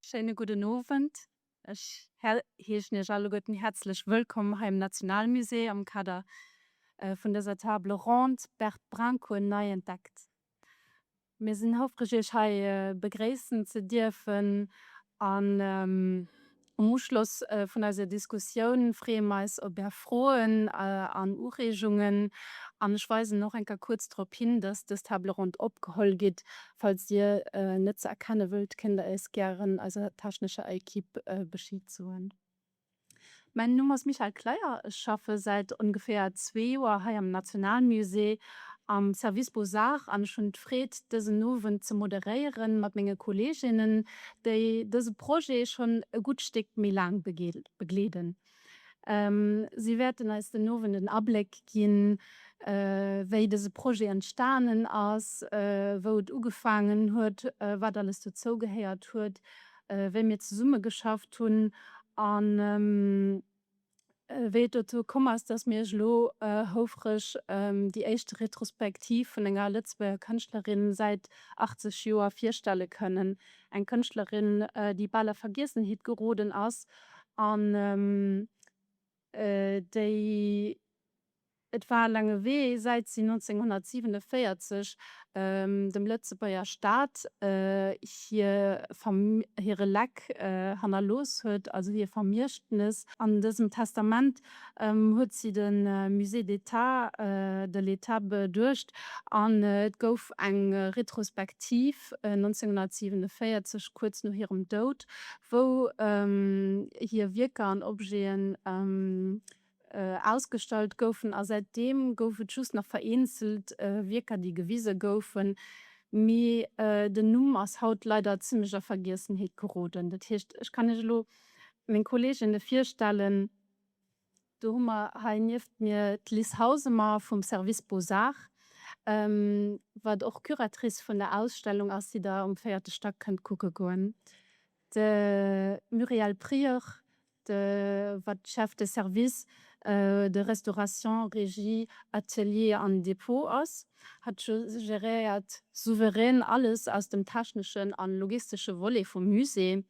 Schéine gudden Owend. Ech heeschen Iech alleguerten häerzlech wëllkomm hei am Nationalmusée am Kader vun dëser Table ronde Bert Brincourt nei entdeckt. Mir sinn houfreg Iech hei begréissen ze dierfen an. Am Uschloss vun eiser Diskussioun freeë mer eis op Är Froen an Ureegungen an ech weisen och eng Kéier kuerz drop hin, dass dës Table ronde opgeholl gitt. Falls Dir net ze erkenne wëllt, kéint Der eis gären eiser technescher Ekip Bescheed soen. Mäin Numm ass Michèle Kleyer, ech schaffe säit ongeféier zwee Joer hei am Nationalmusée am Service Beaux-Arts an ech hunn d'Freed, dësen Owend ze moderéieren mat menge Kolleeginnen, déi dëse Projet schonn e gutt Stéck méi laang begleeden. Si wäerten eis den Owend en Abléck ginn, wéi dëse Projet entstanen ass, wou et ugefaangen huet, wat alles dozou gehéiert huet, wéi mir zesummegeschafft hunn an, Wéi et dozou komm ass, dass mir iech elo houfreg déi éischt Retrospektiv vun enger Lëtzebuerger Kënschtlerin säit 80 Joer virstelle kënnen, eng Kënschtlerin, déi bal a Vergiessenheet geroden ass an déi, Et war e laange Wee, säit si 1947 dem Lëtzebuerger Staat hire Leck hannerlooss huet, also hir Vermiechtnes. An dësem Testament huet si de Musée d'État de l'État beduecht an et gouf eng Retrospektiv 1947, kuerz no hirem Doud, wou hir Wierker an Objeten Ausgestallt goufen a säit deem gouf et just nach vereenzelt Wierker déi gewise goufen, mee den Numm ass haut leider zimlech a Vergiessenheet geroden. Dat heescht, ech kann Iech elo meng Kolleeginne virstellen, do hu mer hei nieft mir d'Liz Hausemer vum Service Beaux-Arts, wat och Curatrice vun der Ausstellung ass, déi Der um véierte Stack kënnt kucke goen, de Muriel Prieur, de wat d'Chef de service de restauration, Regie, Atelier an Depot ass, hat geréiert souverän alles aus dem techneschen a logistesche Volet vum Musée.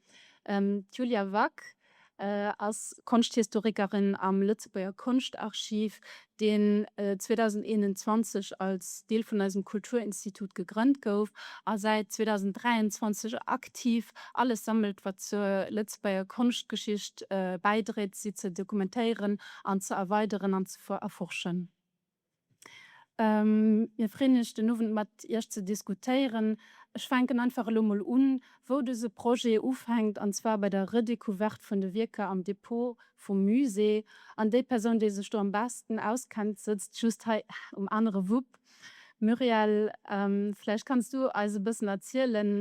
D'Julia Wack ass Konschthistorikerin am Lëtzebuerger Konschtarchiv, deen 2021 als Deel vun eisem Kulturinstitut gegrënnt gouf a säit 2023 aktiv alles sammelt, wat zur Lëtzebuerger Konschtgeschicht bäidréit, si ze dokumentéieren an ze erweideren an ze erforschen. Mir freeën eech, den Owend mat iech ze diskutéieren. Ech fänken einfach elo mol un, wou dëse Projet ufänkt, an zwar bei der Redecouverte vun de Wierker am Depot vum Musée, an déi Persoun, déi sech do am besten auskennt, sëtzt just hei um anere Wupp. Muriel, vläicht kanns du eis e bëssen erzielen,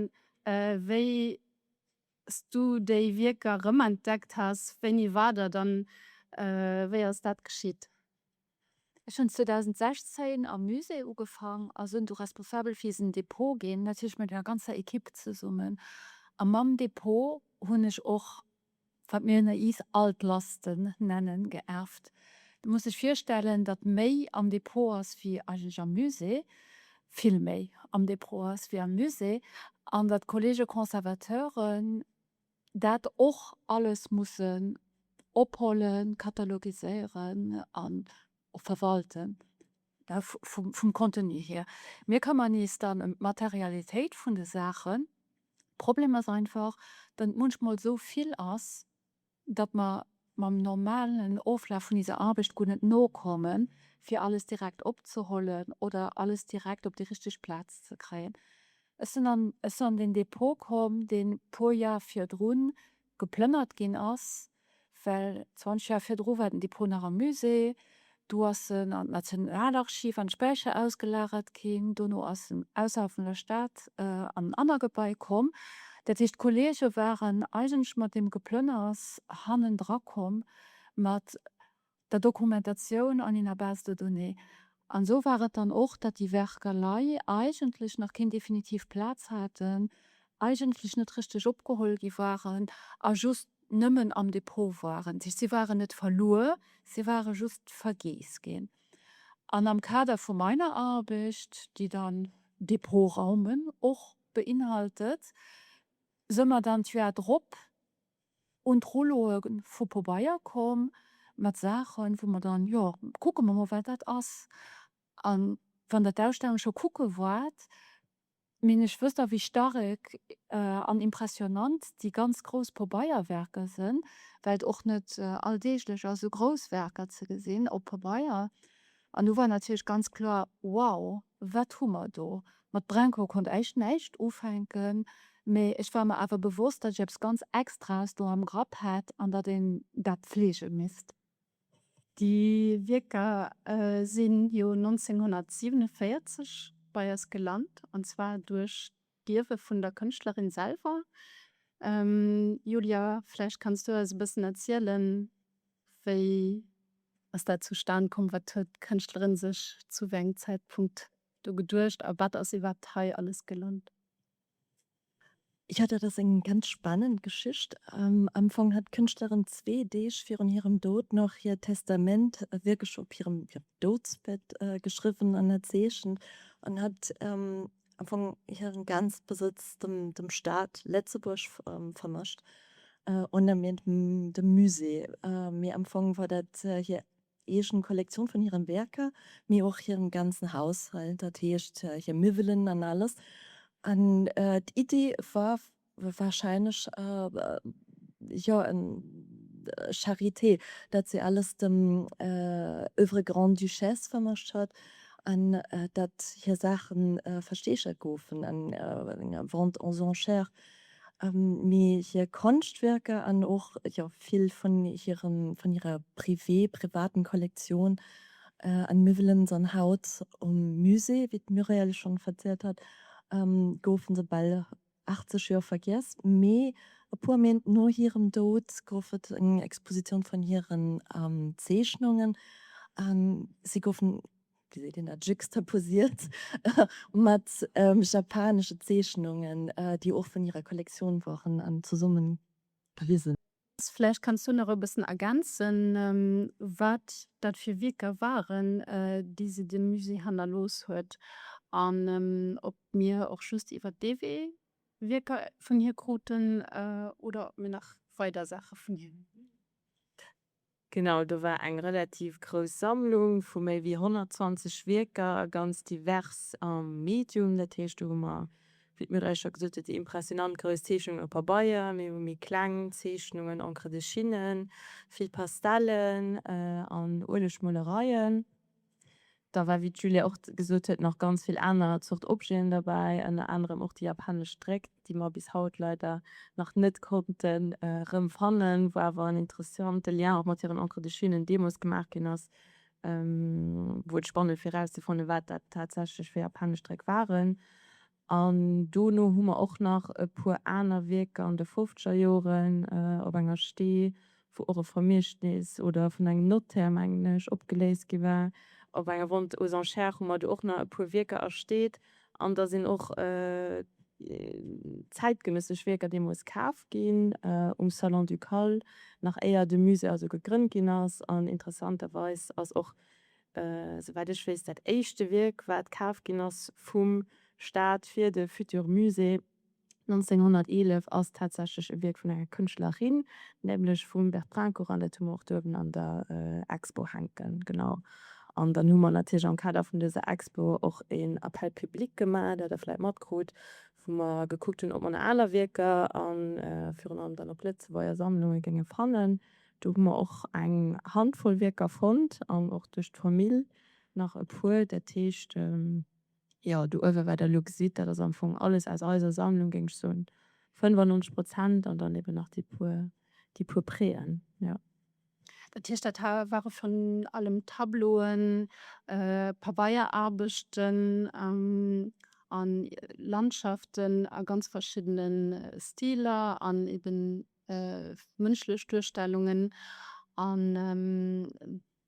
wéi s du déi Wierker rëmentdeckt has, wéini war dat, a wéi ass dat geschitt? Ech hun 2016 am Musée ugefang a sun du responsabel fir isen Dépôt gin, natierlech mat enger ganzer Equipe zesummen. A mam Dépôt hun ech och, wat mir ënner iis Altlasten nennen, geerft. Du muss dech virstellen, datt méi am Dépôt ass wéi eigentlech am Musée, vill méi am Dépôt ass wéi am Musée, an datt d'Kollege Conservateuren dat och alles mussen ophuelen, katalogiséieren an och verwalten vum Contenu hier. Mir këmmern is dann em d'Materialitéit vun de Saachen. Problem as einfach, datt munchmol esou vill as, datt mer mam normalen Oflaf vun iser Arbecht guer net nokommen, fir alles direkt opzehollen oder alles direkt op déi richteg Plaz ze kréien. Ech sinn an ech sinn an deen Depot komm, deen e puer Jar virdrun geplënnert ginn ass, well 20 Joer virdru war den Depot nach am Musée, Do ass en an d'Nationalarchiv an Späicher ausgelagert ginn. Dono ass en ausserhalb vun der Stad an en anner Gebai komm. Dat heescht, d'Kollege waren eigentlech mat deem Geplënners hannendra komm mat der Dokumentatioun an enger Base de données. An esou war et dann och, datt déi Werker lei eigentlech nach keen definitiv Plaz haten, eigentlech net richteg opgeholl gi waren a just nëmmen am Depot waren. Si waren net verluer, si ware just vergeess ginn. An am Kader vu meiner Arbecht, déi dann Depotraumen och beinhaltet, se mer dann d'Joer drop un d'Rouloe vu Pobeier komm mat Saachen, wou mer dann, jo, kucke mer mol, wat dat ass. A wann Der d'Ausstellung scho kucke waart, Mee ech wësst a wéi starrek an impressionant déi ganz grouss Pobeierwerker sënn, well et och net alldeeglech ass esou grouss Werker ze gesinn op Pabeier. An do war natierlech ganz kloer, wow, wat hu mer do! Mat Brenko konnt ech näischt ufänken, mee ech war mer awer bewosst, datt ech eppes ganz Extraes do am Grapp hat an datt een dat pflege misst. Déi Wierker sinn jo 1947 bei eis gelant, an zwar duerch d'Ierwe vun der Kënschtlerin selwer. Julia, vläicht kanns du eis e bëssen erzielen, wéi ass dat zustan komm, wat huet d'Kënschtlerin sech zu wéi engem Zäitpunkt do geduecht a wat ass iwwerhaapt hei alles gelant? Jo, dat ass eng ganz spannend Geschicht. Am Fong hat d'Kënschtlerin zwee Deeg virun hirem Doud nach hiert Testament wierklech op hirem Doudsbett geschriwwen an erzeechent an hat am Fong hiren ganze Besëtz dem Staat Lëtzebuerg vermëscht, ouni dem Musée. Mee am Fong war dat hir eegen Kollektioun vun hiren Werker, mee och hiren ganzen Haushalt, dat heescht hir Miwwelen an alles. An d'Idee war wahrscheinlech, jo, en Charité, dat se alles dem Oeuvre Grande-Duchesse vermacht hat an dat hir Saachen versteegert goufen an enger Vente aux enchères Mee hir Konschtwierker an och jo vill vun hirem, vun hirer Privé, privaten Kollektioun an mir wëllen se an haut um Musée, wéi d'Muriel schonn verzielt hat, goufen se bal 80 Joer vergiess. Mee e puer Méint no hirem Doud gouf et eng Expositioun vun hiren Zeechnungen an si goufen Dir seht een dat juxtaposiert mat japanesche Zeechnungen, déi och vun hirer Kollektioun waren an zesummen gewisen. Vläicht kanns du nach e bëssen ergänzen, wat dat fir Wierker waren, déi se dem Musée hannerlooss huet, an ob mir och just iwwert dee Wee Wierker vun hir kruten oder ob mir nach weider Saache vun hir. Genau, do war eng relativ grouss Sammlung vu méi wéi 120 Wierker, ganz divers am Medium. Dat heescht, do hu mer, wéi d'Myrthe eis scho gesot huet, déi impressionant grouss Zeechnungen op Pabeier, mir hu méi kleng Zeechnungen, Encre de Chine, vill Pastellen an Uelegmolereien. Da war, wéi d'Julia och gesot huet, nach ganz vill aner Zort Objeten derbäi, ënner anerem och déi japanesch Dréck, déi mer bis haut leider nach net konnten erëmfannen, wou awer en interessante Lien och mat hiren Encres de Chine deemools gemaach ginn ass, wou et spannend fir erauszefannen, wat dat tatsächlech fir japanesch Dréck waren. An dono hu mer och nach e puer aner Wierker an de fofzeger Joren op enger Stee, wou och e Vermiechtnis oder vun engem Notaire, mengen ech, opgeléist gi war. Op enger Vente aux enchères hu mer do och nach e puer Wierker ersteet. An da sinn och zäitgenëssesch Wierker deemools kaf ginn um Salon Ducale, nach éier de Musée also gegrënnt ginn ass. An interessanterweis ass och Souwäit ech weess dat éischte Wierk wat kaf ginn ass vum Staat fir de Futur Musée 1911 ass tatsächlech e Wierk vun enger Kënschtlerin, nämlech vum Bertrand Corin, dat hu mer och do uewen an der Expo hänken, genau. An dann hu mer natierlech am Kader vun dëser Expo och een Appel public gemaach, dat der vläit matkrut, wou mer gekuckt hunn ob mer nach aner Wierker a virun allem dann och Lëtzebuerger Sammlunge géinge fannen, Do hu mer och eng Handvoll Wierker fonnt an och duerch d'Famill nach e puer. Dat heescht, jo, do uewe wat der elo gesitt, dat ass am Fong alles aus eiser Sammlung, géing ech soen 95 Prozent, an dann eben nach déi puer, déi puer Préen, jo. Dat heescht, dat ware virun allem Tableauen, Pabeierarbechten a Landschaften a ganz verschiddene Stiler an eben mënschlech Duerstellungen an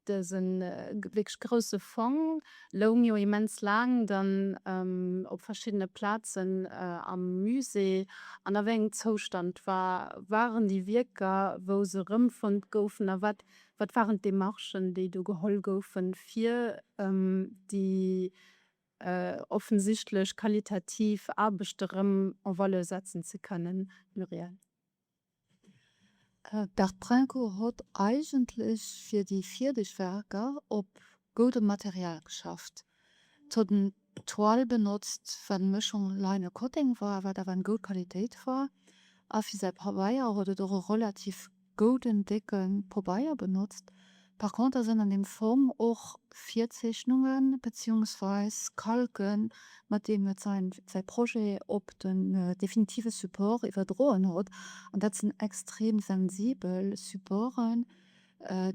dëse wierklech grousse Fong loung jo immens laang dann op verschiddene Plazen am Musée. An a wéi engem Zoustand war, waren déi Wierker, wou se erëmfonnt goufen? A wat, wat waren d'Demarchen, déi do geholl goufen, fir déi offensichtlech qualitativ Aarbecht erëm en valeur setzen ze kënnen. Muriel. D'Art Prinko hott eigentlech fir déi virdeg Werker op goudem Material geschafft. D'hott en Toile benotzt, wat eng Mëschung Laine a Kotteng war, wat awer eng goud Qualitéit war, a fir säi Pabeier hott et och e relativ gouden décken Pobeier benotzt. Par contre sënn an dem Fong och Virzeechnungen beziungsweis Kalken mat deem et sein sein Projet op den definitive Support iwwerdroen hott. An dat sënn extrem sensibel Supporten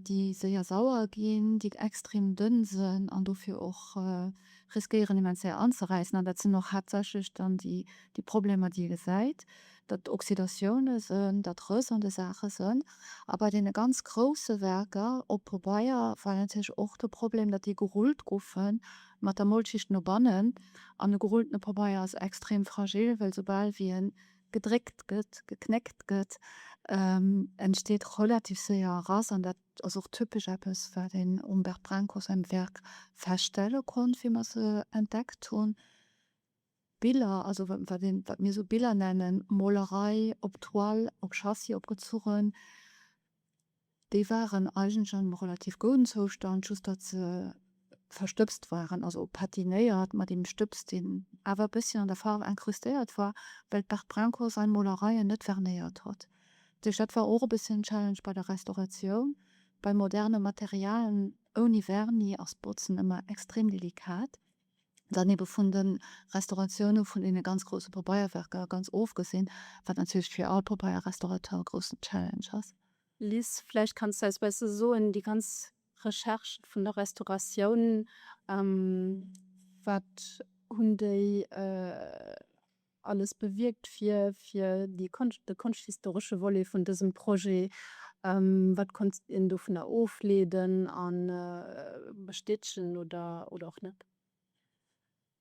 déi séier sauer ginn, déi extrem dënn sënn an dofir och riskéieren immens séier anzeräissen. An dat sënn och haaptsächlech dann déi Problemer déi ee gesäit. datt Oxidatiounen sënn, datt Rëss an de Saache sënn. A bei deene ganz grousse Werker op Pobeier war natierlech och de Problem, datt déi gerullt goufe mat der Molschicht no bannen. An e gerulltene Pobeier ass extrem fragil, well soubal wéi e gedréckt gëtt, geknéckt gëtt, entsteet relativ séier Rass. An dat ass och typesch eppes, wat een um Bert Brancos säin Werk feststelle konnt, wéi mer se entdeckt hunn. Biller, also wat mir sou Biller nennen, Molerei op Toile, op Châssis opgezuchen, déi waren eigentlech an engem relativ gouden Zoustand, just datt se verstëbst waren, also patinéiert mat engem Stëbs, deen awer e bësschen an der Faarf incrustéiert war, well d'Berthe Brincourt säi Molereien net vernéiert hat. Duerch dat war och e bësschen en Challenge bei der Restauratioun. Bei moderne Materialen ouni Vernis ass d'Botzen ëmmer extrem delikat. dann ebe vun de Restauratioune vun deene ganz grousse Popeierwerker ganz ofgesinn, wat natierlech fir all Popeierrestaurateur e groussen Challenge ass. Liz, vläicht kanns de eis besse soen, déi ganz Recherche vun der Restauratioun, wat hunn déi. alles bewierkt fir fir déi Konscht, de konschthistoresche Volet vun dësem Projet, wat konnt een dovunner ofleeden a bestätegen oder oder och net?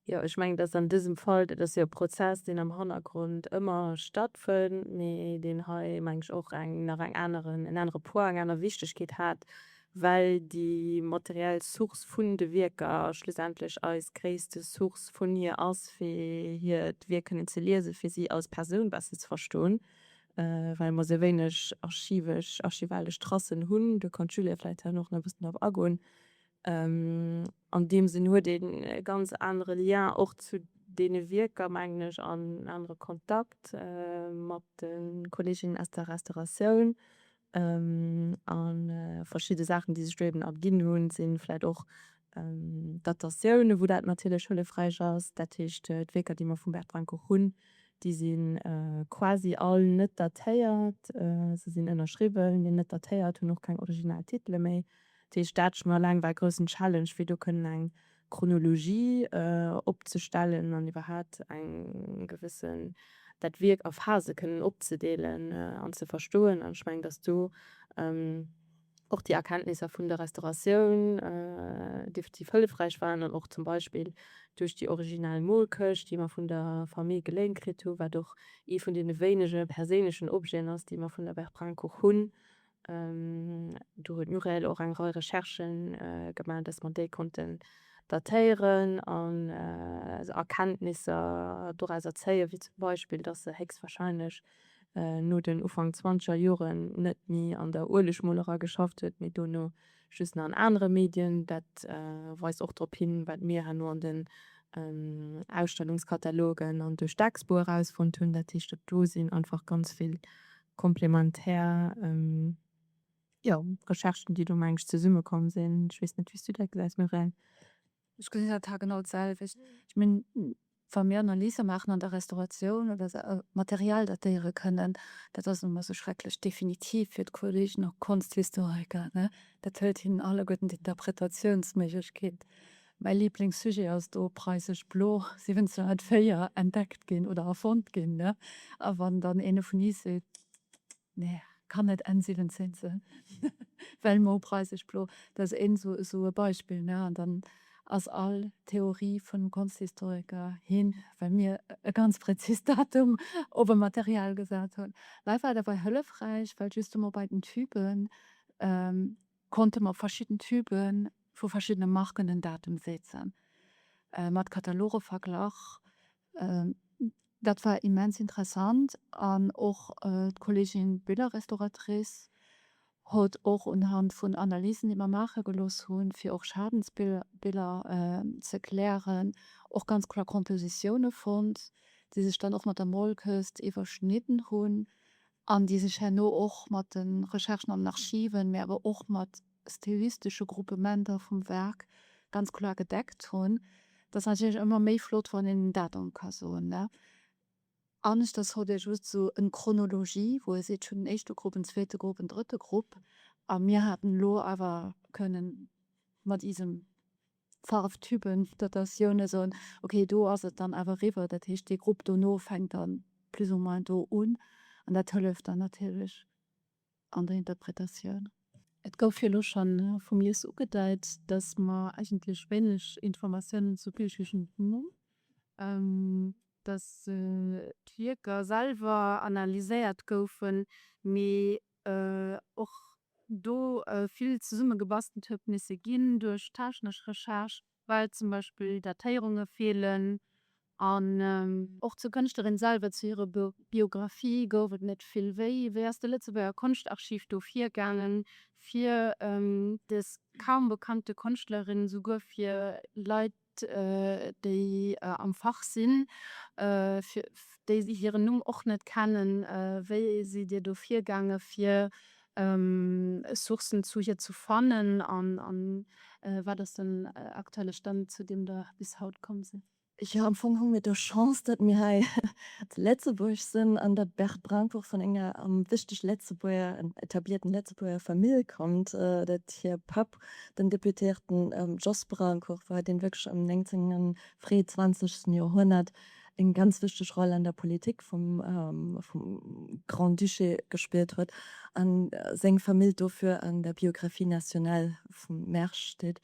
Jo, ech mengen, dass an dësem Fall, dat ass jo e Prozess, deen am Hannergrond ëmmer stattfënnt, mee deen hei, meng ech, och eng nach eng aneren, en anere Poids, eng aner Wichtigkeet hat, well déi materiell Source vun de Wierker schlussendlech eis gréisste Source vun hir ass, fir hiert Wierk kënnen ze liesen, fir si als Persoun besser ze verstoen, well mer esou wéineg archivesch, archivalesch Tracen hunn. Do kann d'Julia vläicht hei nach e bëssen drop agoen. An deem Sënn huet een e ganz anere Lien och zu deene Wierker, mengen ech, an en anere Kontakt mat de Kolleeginnen aus der Restauratioun, An verschidde Saachen déi sech do eben erginn hunn sinn vläit och Datatiounen wou dat natierlech hëllefräich ass. Dat heescht d'Wierker déi mer vum Bert Rancourt hunn déi sinn quasi all net datéiert. Se sinn ënnerschriwwen mee net datéiert, hunn och keng original Titele méi. Dat heescht dat schon alleng war e groussen Challenge fir do kënnen eng Chronologie opzestellen an iwwerhaat eng gewissen, dat Wierk a Phase kënnen opzedeelen an ze verstoen. An ech mengen, dass do och déi Erkenntnisser vun der Restauratioun definitiv hëllefräich waren an och zum Beispill duerch déi originell Molkëscht, déi mer vun der Famille geléint kritt hu wat och ee vun deene wéinege perséinlechen Objeten ass, déi mer vun der Bertrange-Kuch hunn. Do huet d'Muriel och eng Rei Recherchen gemaach, dass mer déi konnten datéieren an Erkenntnisser dorauser zéien, wéi zum Beispill, dass se héchstwahrscheinlech no den Ufank zwanzeger Joren net méi an der Uelegmolerei geschafft huet, mee dono just nach an anere Medien. Dat weist och drop hin, wat mir herno an den Ausstellungskatalogen an duerch d'Expo erausfonnt hunn, dat heescht, do sinn einfach ganz vill Komplementär, jo, Recherchen, déi do, mengen ech, zesummekomm sinn. Ech weess net, wéi s du dat gesäis, Muriel. Ech gesinn dat haargenau d'selwecht. Ech mengen, wa mir Analyse maachen an der Restauratioun oder se Material datéiere kënnen, dat ass nun emol esou schrecklech definitiv fir d'Kollegen a Konschthistoriker, ne? Dat hëlt hinnen alleguerten d'Interpretatiounsméiglechkeet Mäi Liblingssujet ass do Preisesch Blo. Si hunn 1904 entdeckt ginn oder erfonnt ginn, ne? A wann dann een dovun is seet, Nee, kann net Enn 17 sinn, well mol Preisesch Blo, dat ass een esou e Beispill, ne? An dann ass all Theorie vun Konschthistoriker hin, well mir e ganz präzist Datum op e Material gesat hunn. Mä et war dobäi hëllefräich, well just emol bei den Typen, konnte mer op verschidden Tübe vu verschiddene Marken den Datum setzen, mat Kataloge verglach. Dat war immens interessant an och d'Kolleegin Billerrestauratrice huet och unhand vun Analysen, déi mer maache gelooss hunn, fir och Schadensbiller ze klären, och ganz kloer Kompositioune fonnt, déi sech dann och mat der Molkes iwwerschnidden hunn. an déi sech herno och mat de Recherchen an Archiven, mä awer och mat stilistesche Gruppementer vum Werk ganz kloer gedeckt hunn. Et ass natierlech ëmmer méi flott, wann een en Datum ka soen, ne? Aneschters huet ee just esou en Chronologie, wou ee seet, ech hunn en éischte Grupp, en zweete Grupp, en drëtte Grupp. A mir haten elo awer kënnen mat iisem. Farwtypen, dat ass jo ne esou, ok do ass et dann awer eriwwer, dat heescht dee Grupp dono fänkt dann plus ou moins do un an dat hëlleft dann natierlech an der Interpretatioun. Et gouf jo elo schonn vum Lies ugedeit, dass mer eigentlech wéineg Informatiounen zu Billjuegend hunn, dass d'Wierker selwer analyséiert goufen, mee och do vill zesummegebastelt huet misse ginn duerch technesch Recherche, well zum Beispill Datéierunge feelen an. Och zur Kënschtlerin selwer, zu hirer Biographie gouf et net vill. Wéi ass de Lëtzebuerger Konschtarchiv do virgaangen, fir des kaum bekannte Konschtlerin, souguer fir Leit déi am Fach sinn, déi si hiren Numm och net kennen, wéi sidd Dir do virgaange fir Sourcen zu hir ze fannen an wat ass den aktuelle Stand, zu deem Der bis haut komm sidd? Jo, am Fong hu mir d'Chance, datt mir hei zu Lëtzebuerg sinn an datt d'Berthe Brincourt vun enger wichteg Lëtzebuerger, etablierten Lëtzebuerger Famill kommt, datt hir Papp Den Deputéierten Jos Braunkoepp war et, dee wierklech am 19 fréi 20 Joerhonnert eng ganz wichteg Roll an der Politik vum Grand-Duché gespillt huet a seng Famill dofir an der Biographie nationale vum Mersch steet.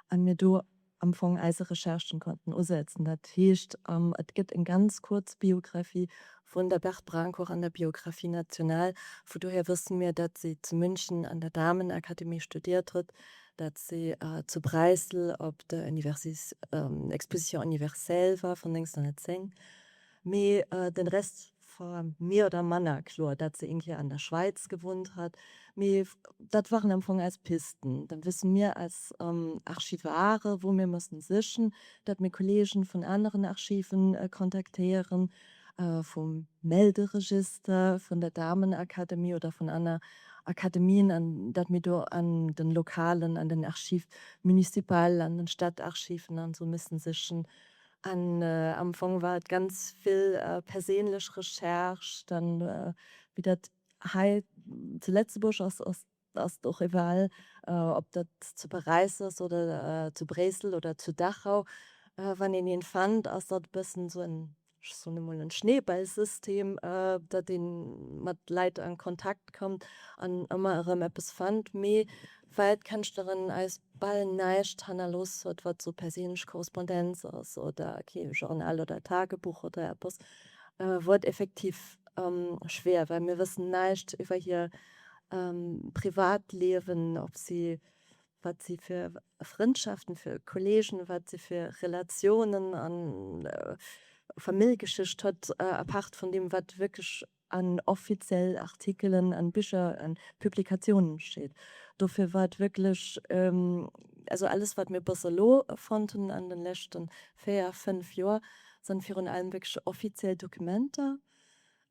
An mir do. am Fong eise Recherchen konnten usetzen. Dat heescht, et gëtt eng ganz kuerz Biographie vun der Berthe Brancor an der Biographie nationale. Vu dohier wësse mir, dat si zu München an der Damenakademie studiert huet, dat si zu Bräissel op der Exposition universelle war vun 1910, Mee den Rest war mir oder manner kloer, dat se een Kéier an der Schweiz gewunnt hat. Mee dat waren am Fong eis Pisten. Dann wëssen mir als Archivare wou mir mëssen sichen, dat mir Kollegen vun aneren Archiven kontaktéieren, vum Melderegister, vun der Damenakademie oder vun anner Akademien an dat mir do an den Lokalen, an den Archives municipales, an den Stadtarchiven an esou missen sichen An am Fong war et ganz vill perséinlech Recherche. Dann, wéi dat hei zu Lëtzebuerg ass, ass et och egal, ob dat zu Paräis ass oder zu Bréissel oder zu Dachau, wann een een fënnt, ass dat e bëssen esou en, ech soen emol, en Schneeballsystem, datt een mat Leit an Kontakt kënnt an ëmmer erëm eppes fënnt. Mee well d'Kënschtlerin eis bal näischt hannerlooss huet, wat esou perséinlech Korrespondenz ass oder kee Journal oder Tagebuch oder eppes, wor et effektiv schwéier, well mir wëssen näischt iwwer hir Privatliewen, ob si, wat si fir Frëndschaften, fir Kollegen, wat si fir Relatiounen an Famillgeschicht huet, apart vun deem, wat wierklech an offiziell Artikelen an Bicher an Publikatiounen steet. Dofir war et wierklech, also alles wat mir bëss elo fonnt hunn an den leschten 4, 5 Joer san virun allem wierklech offiziell Dokumenter.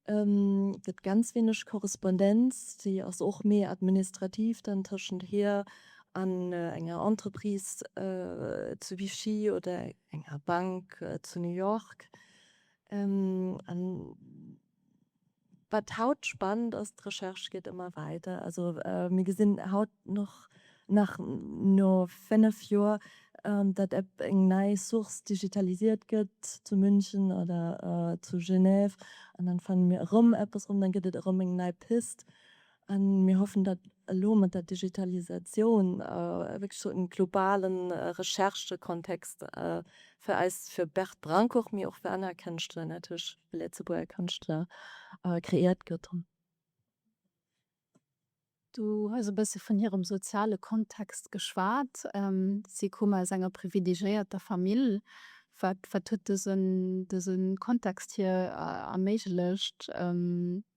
Gëtt ganz weeneg Korrespondenz, déi ass och méi administrativ dann tëschent hir an enger Entreprise zu Vichy oder enger Bank zu New York. An wat haut spannend ass, d'Recherche geet ëmmer weider. Also mir gesinn haut nach, nach no fénnef Joer, datt eng nei Source digitalisiert gëtt zu München oder zu Genève. An dann fanne mir erëm eppes erëm, dann gëtt et erëm eng nei Pist. A mir hoffen, datt elo mat der Digitalisatioun wierklech esou e globale Recherchekontext fir eis, fir Bert Brenkourt, mee och fir aner Kënschtler, natierlech fir Lëtzebuerger Kënschtler, kreéiert gëtt. Du hues e bësse vun hirem soziale Kontext geschwat. Si kumen aus enger privilegéierter Famill. Wat huet dëse Kontext hir erméiglecht,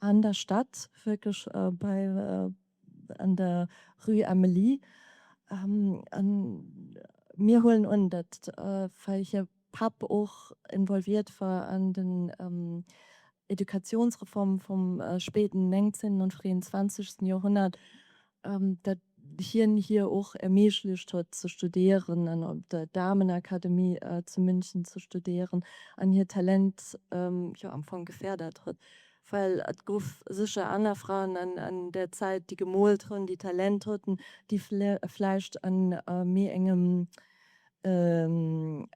An der Stad, wierklech bei, an der Rue Amélie. A mir huelen un, datt well hir Papp och involviert war an den Educationsreforme vum spéiden 19. an fréien 20. Joerhonnert, dat hien hir och erméiglecht huet ze studéieren an op der Damenakademie zu München ze studéieren an hiert Talent jo am Fong geférdert huet. Well et gouf sécher aner Fraen an där Zäit, déi gemoolt hunn, déi Talent haten, déi vläicht a méi engem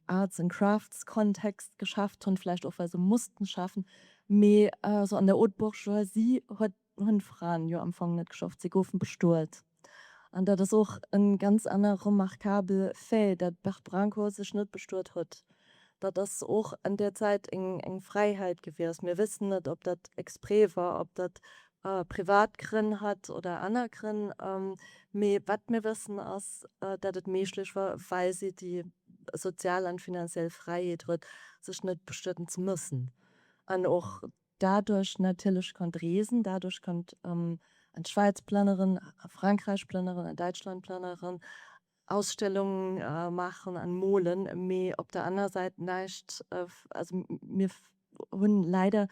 Arts and Crafts Kontext geschafft hunn, vläicht och well se mussten schaffen. Mee esou an der Haute Bourgeoisie huet Hunn d'Fraen jo am Fong net geschafft, si goufen bestuelt. An dat ass och en ganz anner remarkabel Fait, dat Bert Branko sech net bestuelt hutt. Dat ass och an där Zäit eng Fräiheit gewiescht. Mir wëssen net ob dat exprès war, ob dat privat Grënn hat oder aner Grënn. Mee wat mir wëssen ass, dat et méiglech war, well si déi sozial an finanziell Fräiheet huet, sech net bestueten ze mëssen. An och Dadurch natierlech konnt reesen, dadurch konnt an d'Schwäiz plënneren, a Frankräich plënneren, a Däitschland plënneren, Ausstellung maachen an molen. Mee op der anerer Säit näischt, also mir hunn leider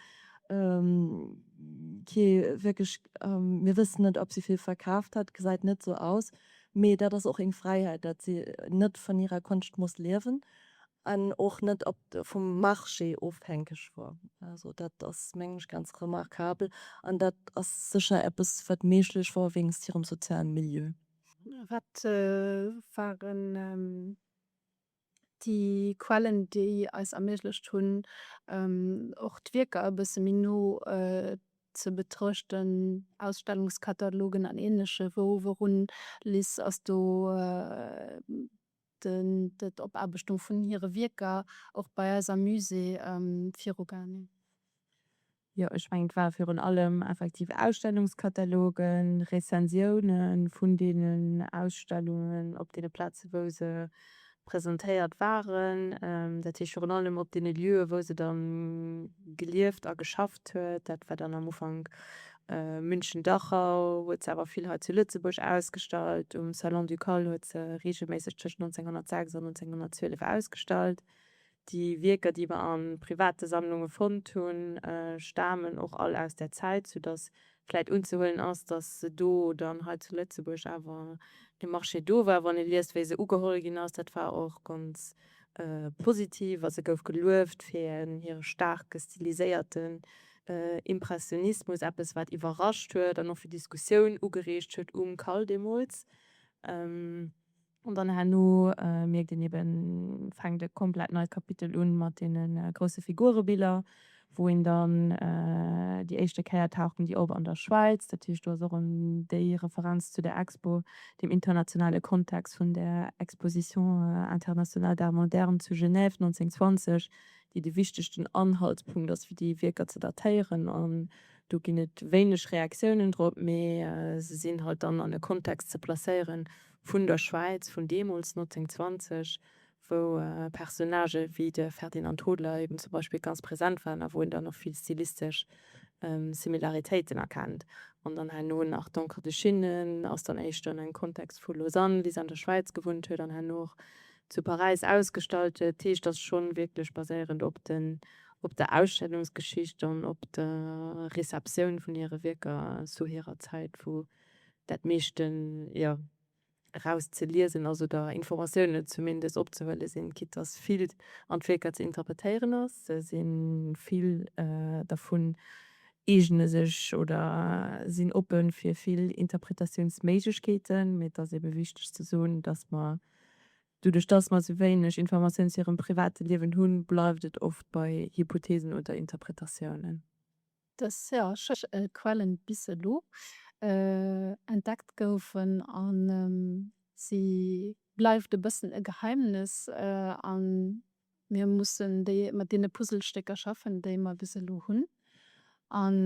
kee wierklech, mir wëssen net ob si vill verkaaft hat, gesäit net sou aus. Mee dat ass och eng Fräiheit, dat si net vun hirer Konscht muss liewen. an och net op vum Marché ofhänkeg wor. Also dat ass mengen ech ganz remarkabel an dat ass sécher eppes wat méiglech wor wéinst hirem sozialen Milieu. Wat waren déi Quellen déi eis erméiglecht hunn och d'Wierker e bësse méi no ze betruechten, Ausstellungskatalogen an ähnleche wou wourun Liz ass do d'Opaarbechtung vun hire Wierker och bei eis am Musée virugaangen. Jo, ech mengen, et ware virun allem effektiv Ausstellungskatalogen, Rezensioune vun deenen Ausstellungen op deene Plaze wou se presentéiert waren. Dat heescht virun allem op deene Lieue wou se dann gelieft a geschafft huet. Dat war dann am Ufank München-Dachau huet se awer vill hei zu Lëtzebuerg ausgestallt. Um Salon du Colle huet se reegelméisseg tëscht 1906 an 1912 ausgestallt. Déi Wierker, déi mer a private Sammlunge fonnt hunn, stamen och all aus där Zäit, soudass vläicht unzehuelen ass, dass se do dann hei zu Lëtzebuerg awer de Marché do war. Wann ee liest, wéi se ugeholl ginn ass, dat war och ganz. Positiv a se gouf gelueft fir hire staarke stiliséierten Impressionismus, eppes wat iwwerrascht huet an och fir Diskussioun ugereegt huet um Cal deemools. An dann herno mierkt een eben, fänkt e komplett neit Kapitel un mat deene grousse Figurebiller. wou een dann déi éischte Kéier taucht en déi op an der Schwäiz, dat heescht do ass och en déi Referenz zu der Expo, dem internationale Kontext vun der Exposition internationale d'art moderne zu Genève 1920, déi de wichtegsten Anhaltspunkt ass fir déi Wierker ze datéieren an do ginn et wéineg Reaktiounen drop, mee se sinn halt dann an e Kontext ze placéieren vun der Schwäiz vun deemools 1920, wou Personnagë wéi de Ferdinand Hodler eben zum Beispill ganz present waren a wou een dann och vill stilistesch Similaritéiten erkennt. An dann herno nach D'Encre de Chine ass dann éischter an engem Kontext vu Lausanne, wéi se an der Schwäiz gewunnt huet, an herno och zu Paräis ausgestallt huet. Dat heescht, ass schonn wierklech baséierend op den, op der Ausstellungsgeschicht an op der Receptioun vun hire Wierker zu hirer Zäit, wou dat meeschten, jo. eraus ze liesen ass oder Informatiounen zumindest opzehuele sinn, quitt dass vill an d'Wierker ze interpretéieren ass, si vill dervun eegne sech oder sinn oppe fir vill Interpretatiounsméiglechkeeten. Mee et ass ebe wichteg ze soen, dass mer, doduerch dass mer esou wéineg Informatioun zu hirem private Liewen hunn, bleift et oft bei Hypotheesen oder Interpretatiounen. Dës Quellen bis elo entdeckt goufen an si bleift e bëssen e Geheimnis an mir mussen déi mat deene Puzzlestécker schaffen déi mer bis elo hunn an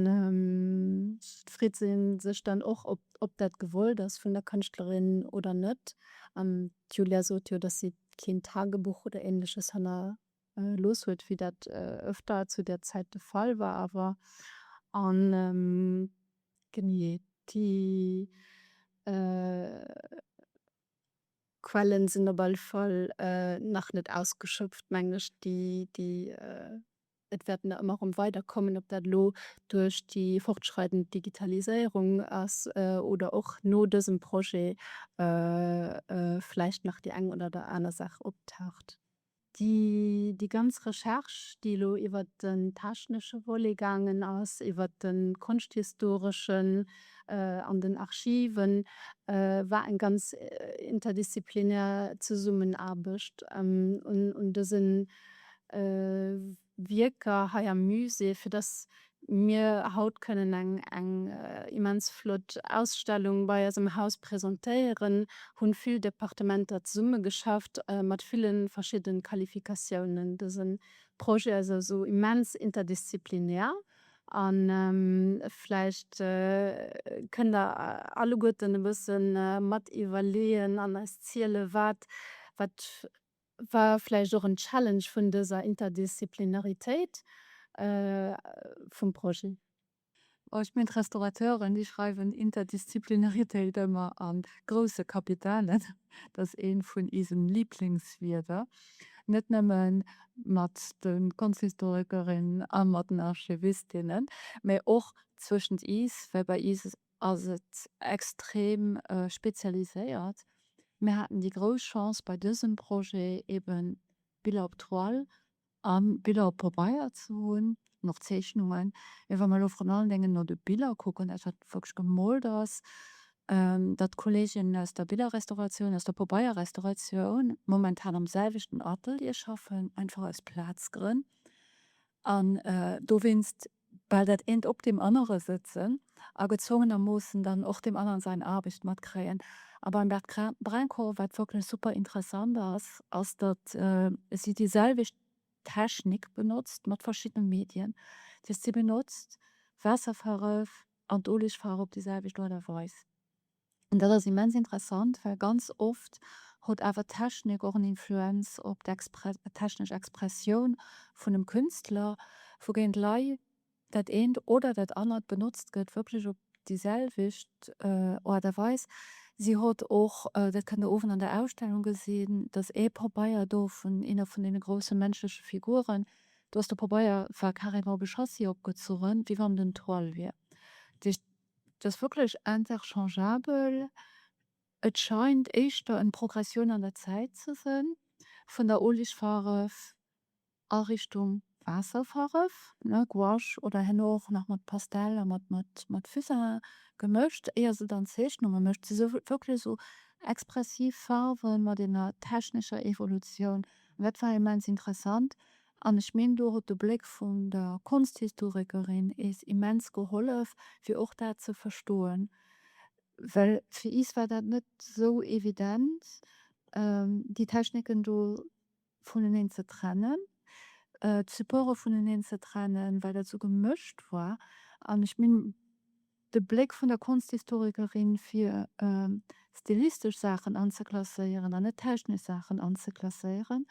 freet se sech dann och ob ob dat gewollt ass vun der Kënschtlerin oder net an d'Julia sot jo dass si keen Tagebuch oder ähnleches hanner looss huet, wéi dat ëfter zu där Zäit de Fall war awer. A genee déi Quelle sinn op alle Fall nach net ausgeschöpft, mengen ech. Et wäert nach ëmmer erëm weiderkommen, ob dat elo duerch déi fortschreidend Digitaliséierung ass oder och no dësem Projet vläicht nach déi eng oder aner Saach optaucht. Déi ganz Recherche, déi elo iwwer den technesche Volet gaangen ass, iwwer de konschthistoreschen an den Archiven, war eng ganz interdisziplinär Zesummenaarbecht un dësen Wierker hei am Musée, fir dass mir haut kënnen eng immens flott Ausstellung bei eis am Haus presentéieren, hu vill Departementer zesummegeschafft, mat ville verschiddene Qualifikatiounen. Dëse Projet ass esou immens interdisziplinär a vläicht kënnt Der alleguerten e bësse mat iwwerleeën an eis ziele wat War vläicht och en Challenge vun dëser Interdisziplinaritéit vum Projet. Oh, ech mengen d'Restaurateuren, déi schreiwen Interdisziplinaritéit ëmmer a grousse Kapitalen. Dat ass eent vun isen Lieblingswierder, net nëmme mat de Konschthistorikerinnen a mat den Archivistinnen, mä och zwëschent is, well bei is ass et extrem spezialiséiert. Mir haten déi grouss Chance bei dësem Projet eben Biller op Toile a Biller op Pabeier ze hunn an och Zeechnungen. Mee wa mer elo vrun allen Déngen no de Biller kucken, dat wat wierklech gemoolt ass, dat d'Kolleeginnen aus der Billerrestauratioun, aus der Pabeierrestauratioun momentan am selwechten Atelier schaffen, einfach aus Plazgrënn, an dowéinst bal dat eent op deem anere sëtzen a gezwongenermoossen dann och deem aneren sain Aarbecht matkréien. A beim Bertrand Brincourt, wat wierklech super interessant ass, ass datt si déi selwecht Technik benotzt mat verschiddene Medien. Dat heescht si benotzt d'Waasserfaref an d'Olegfaarf op déi selwecht Aart a Weis. An dat ass immens interessant, well ganz oft hot awer d'Technik och en Influenz op d'technesch Expressioun vun dem Künstler, wougéint lei dat eent oder dat anert benotzt gëtt, wierklech op déi selwecht Art a Weis. Si hot och, dat kënnt Der owend an der Ausstellung gesinn, dass ee Pabeier do vun eener vun deene grousse menschleche Figuren, do ass de Pabeier, war carrément op e Châssis opgezunn, wéi wann et en Toile wier. Et ass wierklech interchangeabel. Et scheint éischter en Progressioun an der Zäit ze sen vun der Oligfaref a Richtung Waasserfaref, ne, Gouache oder herno och nach mat Pastell a mat Fusain gemëscht éier se dann Zeechnunge mécht. Se sou wierklech sou expressiv Farwen mat enger technescher Evolutioun. Dat war immens interessant. An ech meen, do huet de Bléck vun der Konsthisthorekerin is immens gehollef, fir och dat ze verstoen, well fir is war dat net esou evident, déi Techniken do vuneneen ze trennen, d'Supporte vuneneen ze trennen, well dat esou gemëscht war. An ech meen, De Bléck vun der Konschthistorikerin, fir stilistesch Saachen anzeklasséieren an net technesch Saachen anzeklasséieren,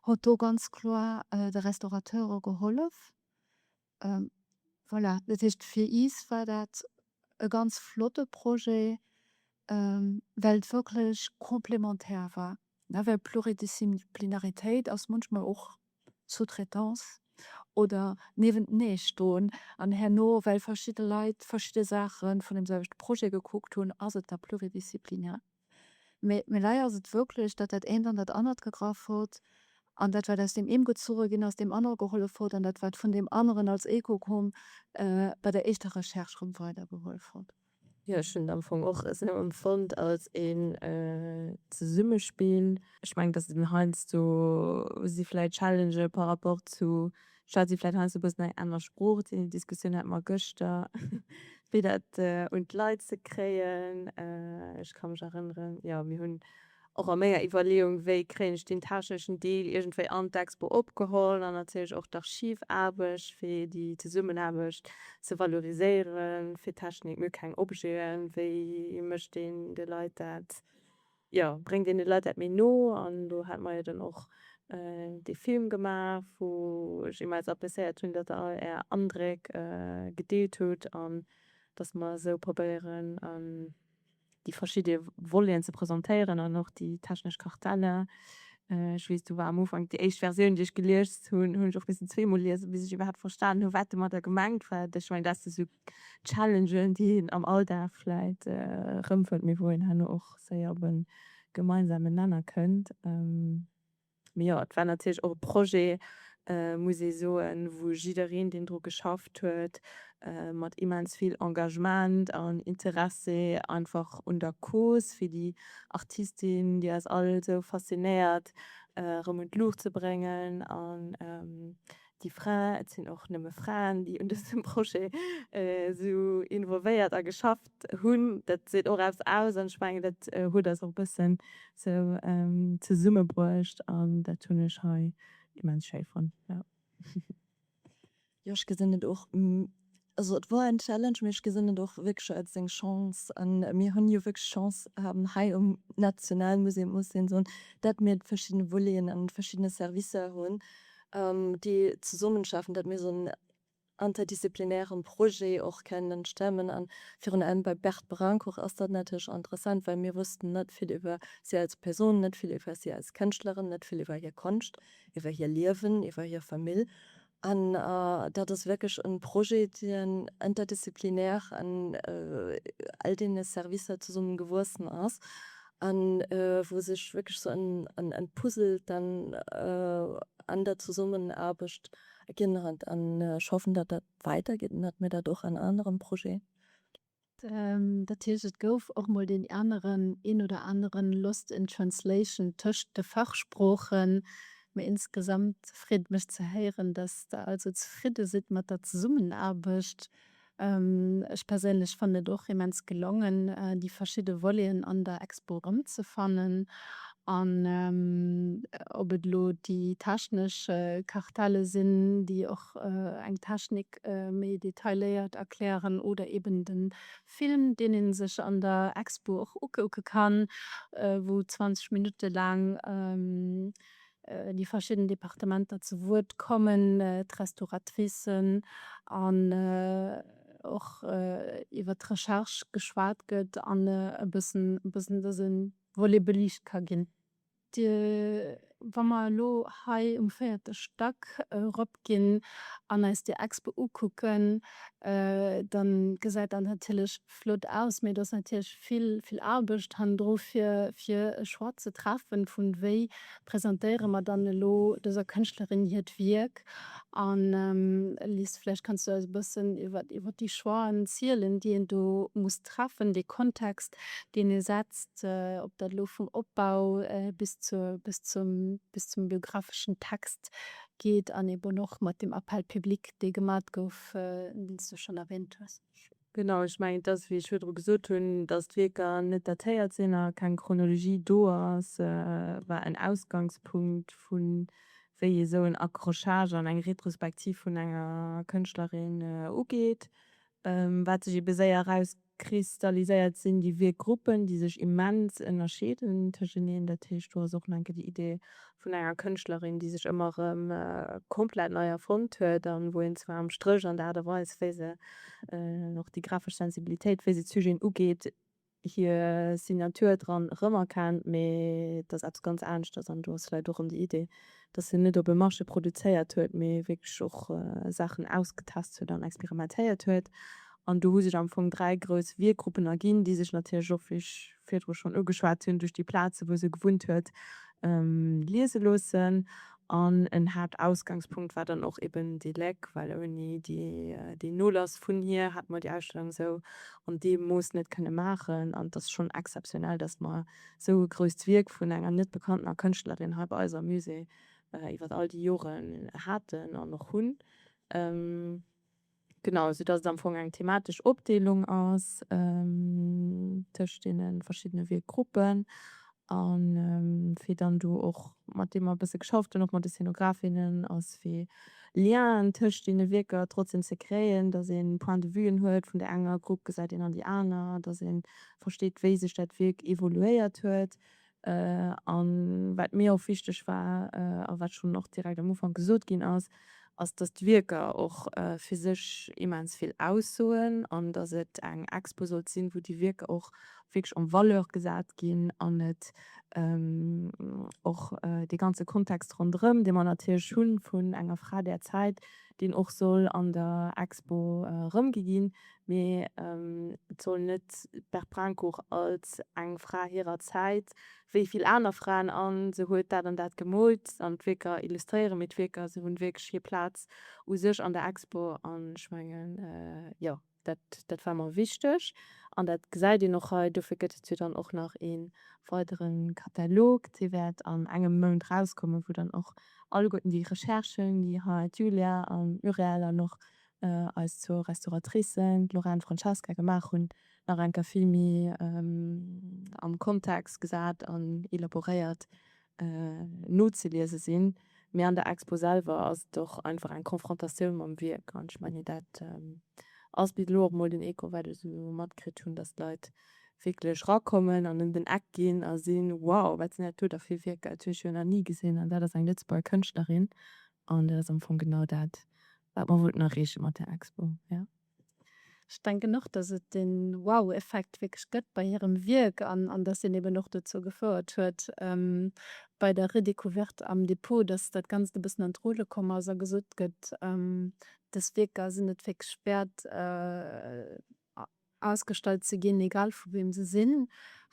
huet do ganz kloer de Restaurateure gehollef. Voilà, dat heescht, fir is war dat e ganz flotte Projet, well et wierklech complémentaire war. Nawell Pluridisziplinaritéit ass munchmol och Sous-traitance oder Niewenteneestoen an herno, well verschidde Leit verschidde Saache vun dem selwechte Projet gekuckt hunn, ass et da pluridisziplinär. Mee méi lei ass et wierklech, datt dat eent an dat anert gegraff huet an dat, wat aus deem een gezuche ginn ass, deem anere gehollef huet an dat, wat vun deem aneren als Echo koum, bei der éischter Recherche rëm weidergehollef huet. Jo, ech hunn et am Fong och esou empfonnt, als een Zesummespill. Ech mengen, datt et heiansdo si vläicht Challengë par rapport zu statt si vläicht heiansdo e bëssen eng aner Sprooch. Déi Diskussioun hate mer gëschter, wéi dat un d'Leit ze kréien. Ech ka mech erënneren, jo, mir hunn. Och a menger Iwwerleeung, wéi kréien ech deen techneschen Deel iergendwéi an d'Expo opgeholl an natierlech och d'Archivaarbecht, fir déi Zesummenaarbecht ze valoriséieren, fir Technik, mir hu keng Objeten, wéi mécht een de Leit dat, jo, bréngt een de Leit dat méi no? An elo hate mer jo dann och dee Film gemaach, wou ech immens appréciéiert hunn, datt Der all Är Andréck gedeelt hutt an datt mer esou probéieren, déi verschidde Voleten ze presentéieren an och déi technesch Kartelle. Ech weess, do war am Ufank déi éischt Versioun, déi ech geliest hunn, hunn ech och missen zweemol liesen, bis ech iwwerhaapt verstanen hunn, wat domadder gemengt war. Ech mengen, dat si sou Challengen, déi een am Alldag vläicht erëmfënnt, mee wou een herno och séier op e gemeinsamen Nenner kënnt. Mee jo, et war natierlech och e Projet, muss ee soen, wou jiddereen, deen dru geschafft huet, mat immens vill Engagement an Interesse einfach un der Cause fir déi Artistin, déi eis all esou faszinéiert, erëm un d'Luucht ze bréngen an déi Fraen, et sinn och nëmme Fraen, déi un dësem Projet esou involvéiert a geschafft hunn, dat seet och eppes aus. An ech mengen, dat huet eis och e bëssen esou zesummebruecht an dat hunn ech hei immens schéi fonnt. Jo, ech gesinn et och. Also et wor en Challenge, mee ech gesinn et och wierklech als eng Chance. An mir hunn jo wierklech d'Chance haben hei um Nationalmuseum, muss een soen, dat mir d'verschiddene Voleten an d'verschiddene Servicer hunn, déi zesummenschaffen, dat mir esou en interdisziplinären Projet och kennen stemmen. An virun allem bei Berthe Brincourt ass dat natierlech interessant, well mir wossten net vill iwwer si als Persoun, net vill iwwer si als Kënschtlerin, net vill iwwer hir Konscht, iwwer hir Liewen, iwwer hir Famill. An dat ass wierklech e Projet, deen interdisziplinär an all deene Servicer zesumme gewuessen ass a wou sech wierklech sou en Puzzle dann an der Zesummenaarbecht erginn huet. An ech hoffen, datt dat weidergeet an datt mir dat och an aneren Projete Dat heescht, et gouf och mol deen aneren, een oder aneren Lost in Translation tëscht de Fachsproochen. Mee insgesamt freet et mech ze héieren, dass Der also zefridde sidd mat der Zesummenaarbecht. Ech perséinlech fannen et och immens gelongen, déi verschidde Voleten an der Expo erëmzefannen. An ob et elo déi technesch Kartelle sinn, déi och eng Technik Werk méi detailéiert erklären oder eben den Film deen een sech an der Expo och ukucken kann wou 20 Minuten laang déi verschidden Departementer zu Wuert kommen, d'Restauratricen an och iwwert d'Recherche geschwat gëtt an e bëssen dësen Volet beliicht ka ginn. Wa mer elo hei um véierte Stack eropginn an eis déi Expo ukucken, da gesäit dat natierlech flott aus, mee do ass natierlech vill, vill Aarbecht hannendru fir, fir e Choix ze treffen, vu wéi presentéiere mer dann elo dëser Kënschtlerin hiert Wierk. An Liz, vläicht kanns du eis e bëssen iwwer, iwwer déi Choixen zielen, déi een do muss treffen, dee Kontext, deen ee setzt. ob dat elo vum Opbau bis zur, bis zum, bis zum biographeschen Text geet an eben och mat dem Appel public, dee gemat gouf, deen s du schonn erwähnt hues. Genau, ech mengen, et ass, wéi ech virdru gesot hunn, datt d'Wierker net datéiert sinn a keng Chronologie do ass, war en Ausgangspunkt, vu wéi ee sou en Accrochage an eng Retrospektiv vun enger Kënschtlerin ugeet. Wat sech ebe séier erauskristalliséiert, sinn déi Wierkgruppen, déi sech immens ënnerscheeden tëscheneen. Dat heescht, do ass och nach enke déi Idee vun enger Kënschtlerin, déi sech ëmmer erëm komplett nei erfonnt huet a wou een zwar am Stréch an der Aart a Weis, wéi se och déi grafesch Sensibilitéit, wéi se d'Sujeten ugeet, hir Signature dran erëmerkennt, mee et ass eppes ganz aneschters an do ass vläicht och erëm déi Idee, dass hien net op e Marché produzéiert huet, mee wierklech och Saachen ausgetest huet an experimentéiert huet. An do hu sech am Fong dräi grouss Wierkgruppen erginn, déi sech natierlech och, wéi ech virdru schonn ugeschwat hunn, duerch déi Plazen, wou se gewunnt huet, liese loossen. An en Haaptausgangspunkt war dann och eben déi Léck, well ouni deen Nolass vun hir hätte mer déi Ausstellung esou an deem Mooss net kënne maachen. An et ass schonn exzeptionell, dass mer esou e grousst Wierk vun enger net bekanntener Kënschtlerin hei bei eis am Musée iwwer all déi Joren haten an och hunn. Genau, sou dass et am Fong eng thematesch Opdeelung ass tëscht deene verschiddene Wierkgruppen. A fir dann do och mat deem mer e bësse geschafft hunn, och mat de Scénographinnen, ass fir Lienen tëscht deene Wierker trotzdeem ze kréien, dass ee Point de vuën huet, vun där enger Grupp gesäit een an déi aner, dass ee versteet, wéi sech dat Wierk evoluéiert huet, A wat mir och wichteg war, a wat schonn och direkt am Ufank gesot ginn ass, ass, dass d'Wierker och fir sech immens vill aussoen an dass et eng Expo sollt sinn, wou déi Wierker och wierklech en valeur gesat ginn an et och dee ganze Kontext ronderëm, dee mer natierlech hu vun enger Fra där Zäit, deen och soll an der Expo erëmgi ginn, Mee et soll net d'Bert Brincourt als eng Fra hirer Zäit, wéi vill aner Fraen, a se huet dat an dat gemoolt an d'Wierker illustréieren, mee d'Wierker, se hunn wierklech hir Plaz u sech an der Expo. An ech mengen, jo, dat, dat war mer wichteg. An dat gesäit een och hei. Dofir gëtt et jo dann och nach ee weidere Katalog, dee wäert an engem Mount erauskommen, wou dann och alleguerten déi Recherchen, déi hei d'Julia an d'Muriel an och eis zwou Restauratricen, d'Lorraine, d'Francesca, gemaach hunn, nach eng Kéier vill méi am Kontext gesat an elaboréiert nozeliese sinn. Mee an der Expo selwer ass et och einfach eng Konfrontatioun mam Wierk. An ech mengen, dat ass bis elo och mol den Echo, wat ech esou matkritt hunn, dass d'Leit wierklech rakommen an ëm den Eck ginn a sinn, wow, wat sinn dat do da fir Wierker, dat hunn ech jo nach ni gesinn an dat ass eng Lëtzebuerger Kënschtlerin. An dat ass am Fong genau dat, wat mer wollten erreeche mat där Expo. Ech denken och, dass et dee Wow-Effekt wierklech gëtt bei hirem Wierk an dass deen eben och dozou gefouert huet bei der Redécouverte am Depot, dass dat Ganzt e bëssen an d'Rulle komm ass a gesot gëtt, dës Wierker sinn et wierklech wäert, ausgestallt ze ginn, egal vu weem se sinn,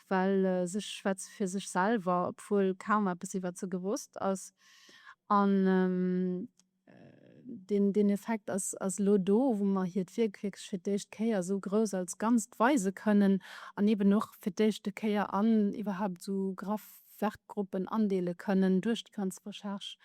well se schwätze fir sech selwer, obwuel kaum eppes iwwert se gewosst ass. An deen Effekt ass elo do, wou mer hiert Wierk wierklech fir d'éischt Kéier esou grouss als Ganzt weise kënnen an eeben och fir d'éischte Kéier an iwwerhaupt esou graff Werkgruppen andeele kënnen duerch déi ganz Recherche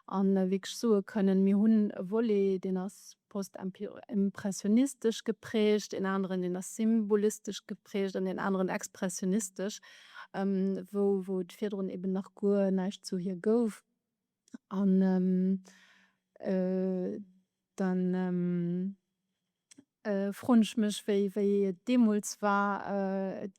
a wierklech soe kënnen, mir hunn e Volet, deen ass postimpressionistesch geprägt, en aneren, deen ass symbolistesch geprägt an en aneren expressionistesch, wou et virdrun eben nach guer näischt zu hir gouf. an dann froen ech mech wéi wéi et deemols war, et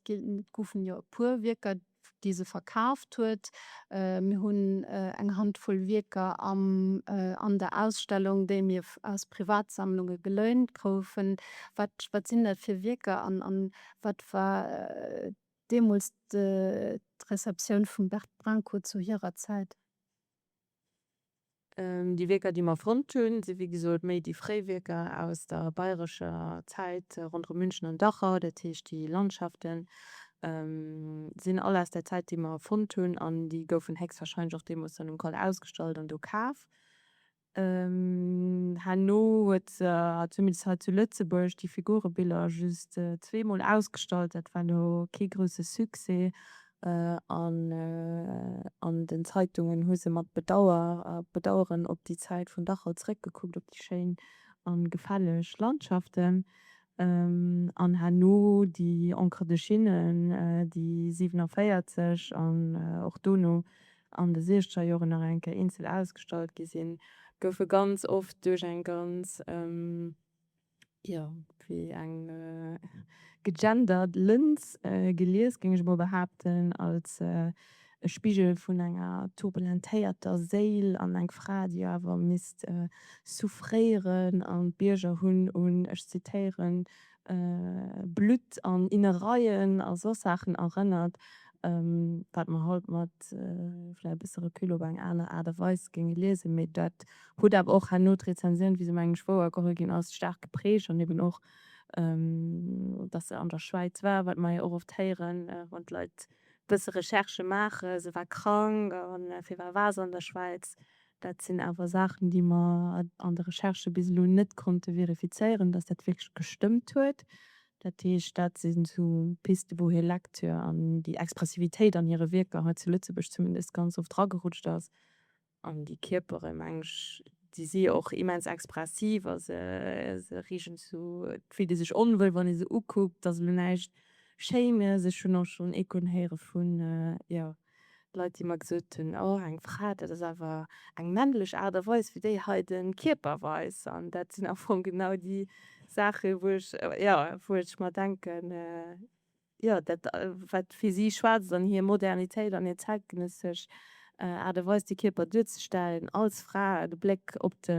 goufen jo e puer Wierker déi se verkaaft huet, mir hunn eng Handvoll Wierker am an der Ausstellung déi mir aus Privatsammlunge geléint goufen. Wat wat sinn dat fir Wierker an an wat war deemools d'Receptioun vum Bert Brinco zu hirer Zäit. Déi Wierker, déi mer fonnt hunn, si wéi gesot méi déi fréi Wierker aus der bayerescher Zäit ronderëm München an Dachau. Dat heescht, déi Landschafte sinn all aus där Zäit, déi mer fonnt hunn, an déi goufen héchstwahrscheinlech och deemools dann um Col ausgestallt an do kaf. Herno huet se, zumindest hei zu Lëtzebuerg, déi Figurebiller just zweemol ausgestallt. Dat war elo kee grousse Succès an an den Zeitungen hu se mat Bedauer, Bedaueren op déi Zäit vun Dachau zréckgekuckt, op déi schéin a gefälleg Landschaften. An herno déi Encre de Chine, déi 47 an och dono an de siechzeger Joren nach eng Kéier eenzel ausgestallt gi sinn, goufe ganz oft duerch eng ganz, jo, wéi eng gegendert Lëns gelies, géing ech emol behaapten, als e Spigel vun enger turbulentéierter Séil an eng Fra, déi awer misst souffréieren an d'Bierger hunn un, ech zitieren, Blutt an Innereien a soss Saachen erënnert, wat mer haut mat vläicht e bësse Recul op eng aner Aart a Weis géinge liesen. Mee dat huet awer och herno d'Rezensioun, wéi se mengen ech wouer geholl ginn ass, staark geprägt. An eben och, dass se an der Schwäiz war, wat mer jo och oft héieren, wann d'Leit e bësse Recherche maachen, se war krank a fir wat war se an der Schwäiz, Dat sinn awer Saachen, déi mer an de Recherchë bis elo net konnte verifizéieren, dass dat wierklech gestëmmt huet. Dat heescht, dat si sou Piste, wou hir Lektür an déi Expressivitéit an hire Wierker hei zu Lëtzebuerg zumindest ganz oft ragerutscht ass. An déi Kierpere, meng ech, déi si jo och immens expressiv a se reegen zu, et fillt ee sech onwuel, wann ee se ukuckt. Et ass elo näischt Schéines. Ech hunn och schonn Echoen héiere vun, jo, Leit déi mer gesot hunn, oh eng Fra, dat ass awer eng männlech Aart a Weis wéi déi hei de Kierper weist. An dat sinn am Fong genau déi Saache wou ech, jo, wou ech mer denken, jo, dat wat fir si schwaarzt an hir Modernitéit an hir zäitgenëssesch Aart a Weis de Kierper duerzestellen als Fra, de Bléck op de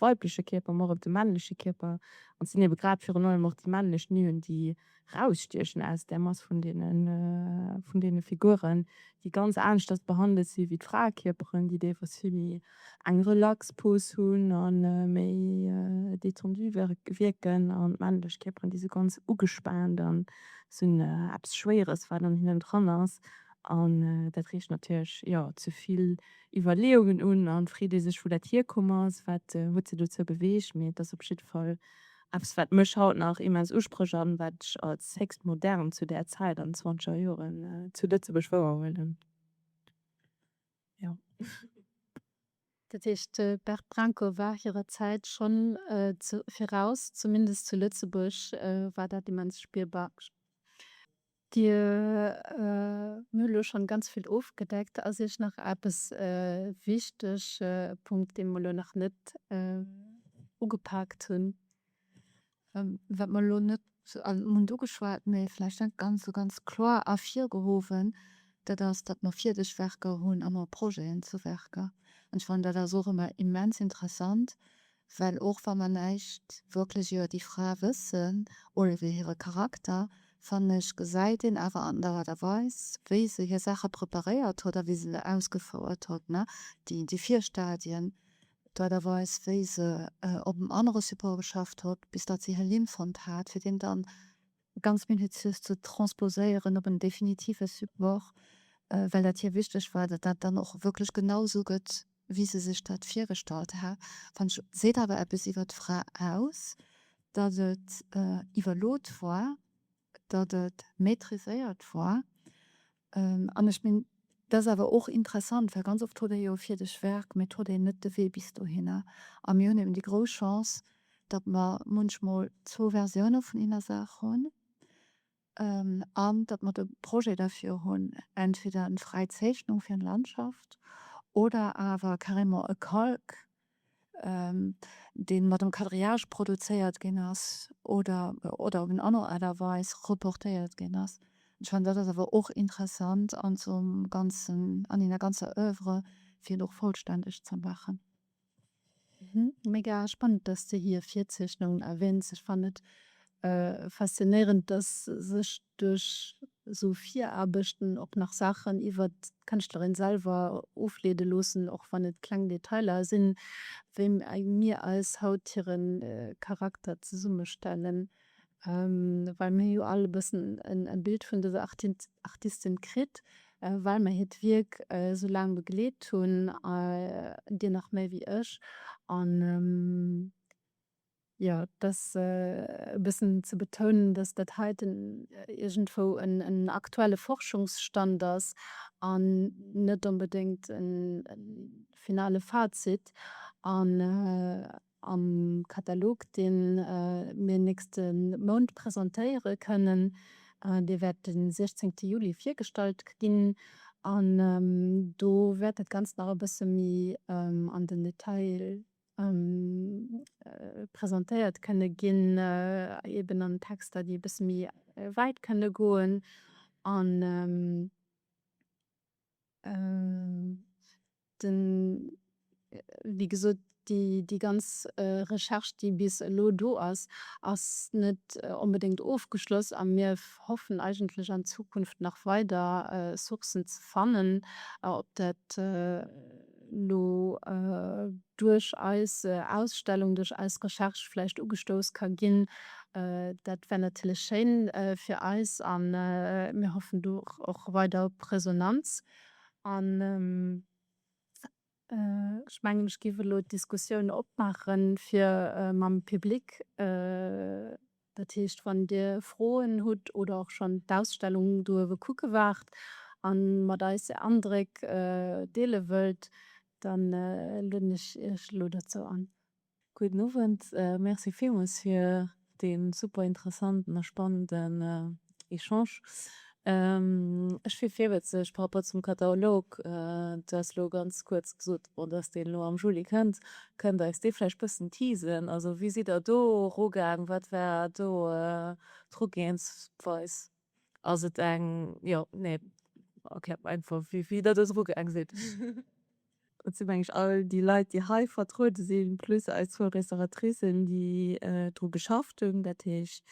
weibleche Kierper, ma och op de männleche Kierper. An et sinn ebe grad virun allem och déi männlech Nuen déi rausstiechen aus där Mass vun deenen, vun deene Figuren, déi ganz aneschters behandelt si wéi d'Fraekierperen, déi däerfers vill méi eng relax Pose hunn a méi détendu wierken, an d'männlech Kierperen, déi si ganz ugespaant a si hunn eppes Schwéieres, wat an hinnen dran ass. An dat reegt natierlech, jo, zu vill Iwwerleeungen un. An d'Freet ee sech, wou dat hierkomm ass, wat huet se dozou beweegt. Mee et ass op jidde Fall Eppes wat mech haut nach immens usprécht an wat ech als héchst modern zu där Zäit an den zwanzeger Joren zu Lëtzebuerg wouerhuelen. Dat heescht de Bert Brenko war hirer Zäit schonn viraus, zumindest zu Lëtzebuerg war dat immens spierbar. Dir mir elo schonn ganz vill ofgedeckt. Ass Iech nach eppes e wichteg Punkt, dee mer elo nach net ugepaakt hunn, wat mer elo net hunn ugeschwat, mee vläicht net ganz esou ganz kloer ervirgehowen, dat ass, datt mer fierdeg Werker hunn a mer Projeten zu Werker. An ech fannen dat ass och ëmmer immens interessant, Well och wa mer näischt wierklech iwwer déi Fra wëssen oder iwwer hire Charakter, fannen ech, gesäit een awer an der Art a Weis, wéi se hir Saache preparéiert huet a wéi se se ausgefouert huet, déi Virstadien, d'Art a Weis, wéi se op dem anere Support geschafft huet, bis datt se hir Linn fonnt hat, fir deen dann ganz minutiös ze transposéieren op en definitive Support, well dat hir wichteg war, datt dat dann och wierklech genau esou gëtt, wéi se sech dat virgestallt hat, fannen ech, seet awer eppes iwwer d'Fra aus, datt et iwwerlot war, datt et maîtriséiert war An ech minn, dat ass awer och interessant, well ganz oft huet ee jo e fierdeg Werk, mee et huet een net de Wee bis dohinner. A mir hunn eben déi grouss Chance, datt mer munchmol zwou Versioune vun enger Saach hunn an datt mer de Projet derfir hunn, entweder eng fräi Zeechnung fir eng Landschaft oder awer carrément e Calque dee mat dem Quadrillage produzéiert ginn ass oder op eng aner Aart a Weis reportéiert ginn ass. Ech fannen, dat ass awer och interessant an zum ganzen, an enger ganzer Oeuvre fir en och vollstänneg ze maachen. Mega spannend, dass de hir Virzeechnungen erwähns. Ech fannen et faszinéierend, dass sech duerch esou Viraarbechten och nach Saachen iwwer d'Kënschtlerin selwer ofleede loossen, och wann et kleng Detailer sinn, wéi mir eis haut hire Charakter zesummestellen, well mir hu jo all e bëssen e Bild vun dëser Artistin kritt, well mer hiert Wierk esou laang begleet hunn, dir nach méi wéi ech. Jo, et ass e bëssen ze betounen, datt dat heiten iergendwou en aktuelle Forschungsstand ass an net onbedéngt e finale Fazit. An am Katalog, dee mir nächste Mount presentéiere kënnen, dee wäert de 16 Juli virgestallt ginn, an do wäert dat Ganzt nach e bësse méi an den Detail presentéiert kënne ginn, eben an Texter, déi e bësse méi wäit kënne goen an den, wéi gesot, déi, déi ganz Recherche, déi bis elo do ass, ass net onbedéngt ofgeschloss a mir hoffen eigentlech an Zukunft nach weider Sourcen ze fannen, ob dat. elo duerch eis Ausstellung, duerch eis Recherche vläicht ugestouss ka ginn. Dat wär natierlech schéin fir eis a mir hoffen do och weider op Resonanz. An ech mengen, ech géif elo d'Diskussioun opmaachen, fir mam Public. Dat heescht, wann Dir Froen hutt oder och schonn d'Ausstellung do uewe kucke waart a mat eis Är Andréck deele wëllt, da lueden ech Iech elo dozou an. Gudden Owend, Merci villmools fir dee super interessanten a spannende Echange. Ech fir virwëtzeg par rapport zum Katalog, du has elo ganz kuerz gesot, bon, datt deen elo am Juli kënnt. Kënnt Der eis dee vläicht e bëssen teasen? Also wéi sidd Der do erugaang? Wat war do d'Erugehensweis? Ass et eng, jo, nee, erkläert mer einfach wéi Der do erugaang sidd. Dat si mengen ech all déi Leit, déi hei vertruede sinn, plus eis zwou Restauratricen, déi dru geschafft hunn. Dat heescht,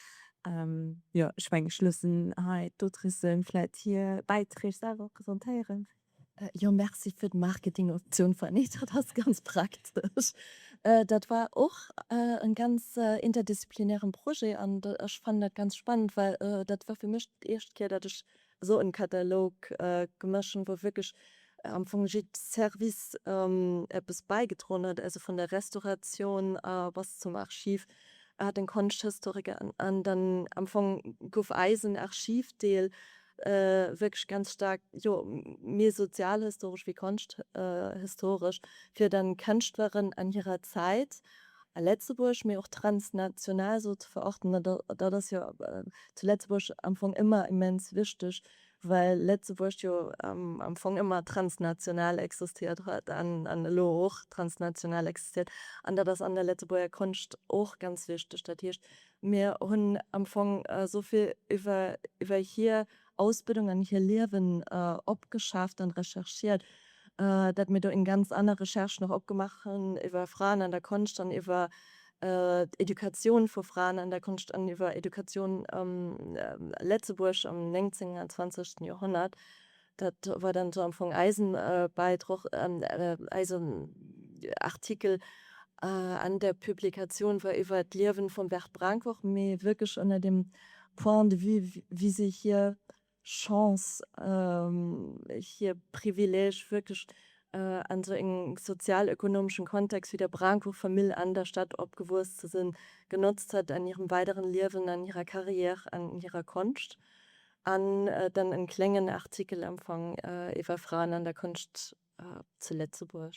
jo, ech mengen, ech loossen hei d'Autrice vläicht hir Bäiträg selwer presentéieren. Jo, merci fir d'Marketingoptioun, Fanny. Dat ass ganz praktesch. Dat war och e ganz interdisziplinären Projet an ech fannen dat ganz spannend, well dat war fir mech d'éischt Kéier, datt ech Esou en Katalog ge machen wou wierklech am Fong jidd Service eppes bäigedroen huet, also vun der Restauratioun a bass zum Archiv a den Konschthistoriker an dann am Fong gouf eisen Archivdeel wierklech ganz staark jo méi sozialhistoresch wéi konschthistoresch fir dann Kënschtleren an hirer Zäit. a Letzebuerg, mee och transnational esou ze verachten, dat ass jo zu Letzebuerg am Fong ëmmer immens wichteg, well Letzebuerg jo am Fong ëmmer transnational existiert huet an elo och transnational existiert. An dat ass an der Letzebuerger Konscht och ganz wichteg. Dat heescht, mir hunn am Fong esou vill iwwer hir Ausbildung an hir Liewen opgeschaaft an recherchiert, dat mir do eng ganz aner Recherche nach opgemaach hunn iwwer Fraen an der Konscht an iwwer d'Educatioun vu Fraen an der Konscht an iwwer Educatioun a Letzebuerg am néngzéngten an zwanzegsten Joerhonnert. Dat war dann esou am Fong eisen Beidroch, eisen Artikel an der Publikatioun war iwwer d'Liewen vum Bert Brenck och, mee wierklech ënner dem Point de vue wéi se hir Chance, hir Privileeg wierklech an esou engem sozialökonomeschen Kontext wéi der Brincourt Famill an der Stad opgewuess ze sinn, genotzt huet an hirem weideren Liewen, an hirer Carrière, an hirer Konscht. An dann en kléngen Artikel am Fong iwwer Fraen an der Konscht zu Lëtzebuerg.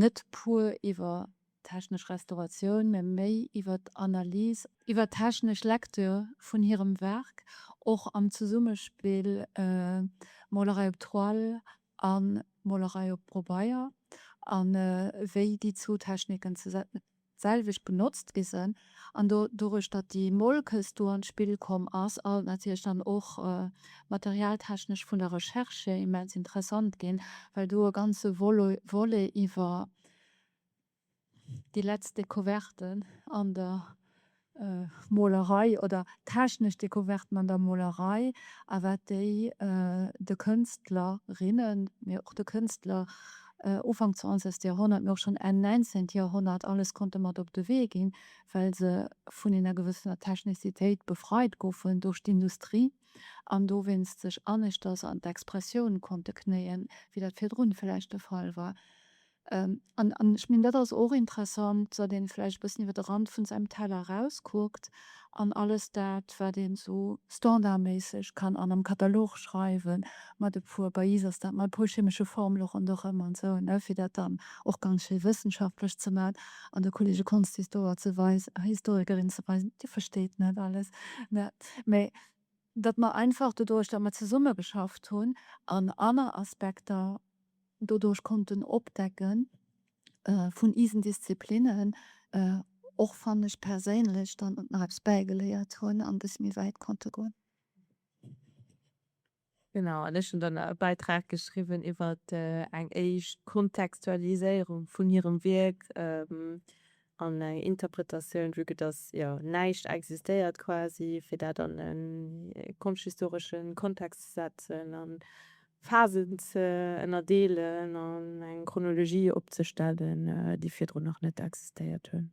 Net pur iwwer d'technesch Restauratioun, mä méi iwwer d'Analys, iwwer d'technesch Lektür vun hirem Werk, och am Zesummespill Molerei op Toile a Molerei op Probeier, a wéi déi zwou Techniken d'selwecht benotzt gi sen, an do doduerch datt déi Molkes do an d'Spill komm ass, ass et natierlech dann och materialtechnesch vun der Recherche hier immens interessant ginn, well do e ganze Volet iwwer déi letzt Découverten an der Molerei oder technesch Decouverten an der Molerei a wat déi de Kënstler, rinnen, mee och de Kënstler Ufank zwanzegst Joerhonnert, mee och schonn Enn näinzeent Joerhonnert alles konnte mat op de Wee ginn, well se vun enger gewëssener Technicitéit befreit goufen duerch d'Industrie an dowéinst sech aneschters an d'Expressioun konnte knéien, wéi dat virdrun vläicht de Fall war. An ech mengen, dat ass och interessant, datt ee vläicht e bëssen iwwer de Rand vu säinem Teller erauskuckt an alles dat, wat een esou standardméisseg kann an am Katalog schreiwen, mat e puer, bei iis ass dat mat e puer chemesche Formele ronderëm an esou, fir dat dann och ganz schéi wëssenschaftlech ze maachen an de Kollege Kunsthistoriker ze weisen, Dir versteet net alles. Mä datt mer einfach doduerch, datt mer zesummegeschafft hunn an aner Aspekter doduerch konnten opdecken vun isen Disziplinnen, och wann ech perséinlech dann nach eppes bäigeléiert hunn an e bësse méi wäit konnte goen. Genau, an ech hunn dann e Bäitrag geschriwwen iwwert eng éischt Kontextualiséierung vun hirem Wierk. An eng Interpretatioun, vue que dass jo näischt existéiert quasi, fir dat an e konschthistoresche Kontext ze setzen a Phasen ze ënnerdeelen an eng Chronologie opzestellen, déi virdrun nach net existéiert hunn.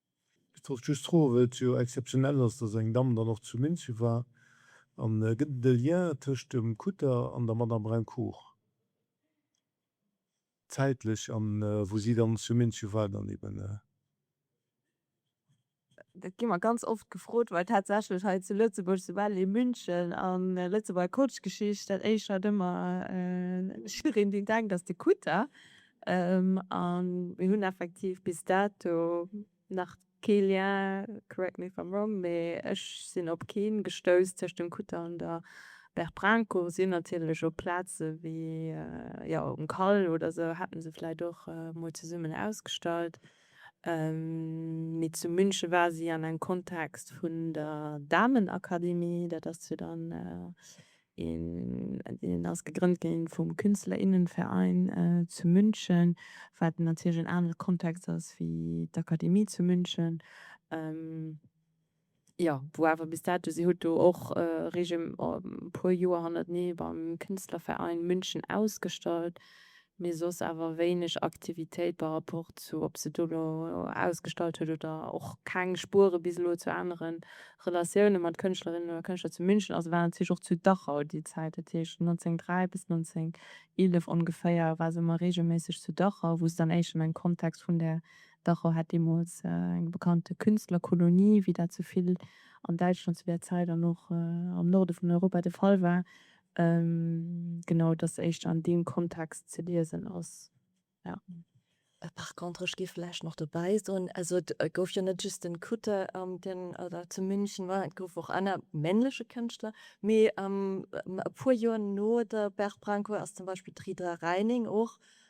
Ech wollt just froen, wëll et jo exzeptionell ass, dass eng Damm dann och zu Minsu war, an gëtt et e Lien tëscht dem Kutter an der Madame Brincourt, zäitlech, an wou si dann zu Minsu war dann eben? Dat gi mer ganz oft gefrot, well tatsächlech hei zu Lëtzebuerg, soubal ee München a Lëtzebuerger Kotschgeschicht, dat éischt wat ëmmer Schülerin, déi denkt, ass de Kutter. An mir hunn effektiv bis dato nach kee Lien, correct me if I'm wrong, mee ech sinn op keen gestouss, tëscht dem Kutter an der Berprankour. Si hunn natierlech op Plaze wéi, jo, um Kall oder sou hätten se vläicht och mol zesummen ausgestallt, mee zu München war si an engem Kontext vun der Damenakademie, dat ass jo dann. Hien ass gegrënnt ginn vum Künstlerinnenverein zu München, wat natierlech en anere Kontext ass wéi d'Akademie zu München. Jo, wou awer bis dato, si huet do och e puer Joer hannertenee beim Künstlerverein München ausgestallt, mee soss awer wéineg Aktivitéit par rapport zu ob se do elo ausgestallt huet oder och keng Spuere bis elo zu anere Relatioune mat Kënschtlerinnen oder Kënschtler zu München ass. Et war natierlech och zu Dachau déi Zäit, dat heescht 1903 bis 1911 ongeféier war se ëmmer reegelméisseg zu Dachau, wou se dann éischt an engem Kontext vun där, Dachau hat deemools eng bekannte Künstlerkolonie, wéi dat sou vill an Däitschland zu där Zäit an och am Norde vun Europa de Fall war, Genau, dass éischter an deem Kontext ze liesen ass, jo. Par contre, ech géif vläicht nach dobäi soen, also et gouf jo net just den Cutter, deen dat zu München war, et gouf och aner männleche Kënschtler. Mee e puer Joer no der Berthe Brancourt ass zum Beispill d'Ridra Reining och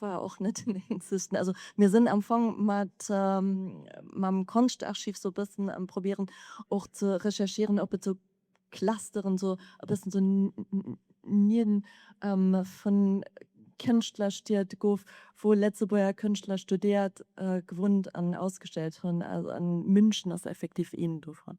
War och net den eenzegsten. Also mir sinn am Fong mat mam Konschtarchiv sou bëssen am probieren och ze recherchieren op et sou Clusteren sou e bëssen sou Nien vun Kënschtlerstied gouf wou Lëtzebuerger Kënschtler studéiert, gewunnt an ausgestellt hunn. An München ass effektiv een dovun.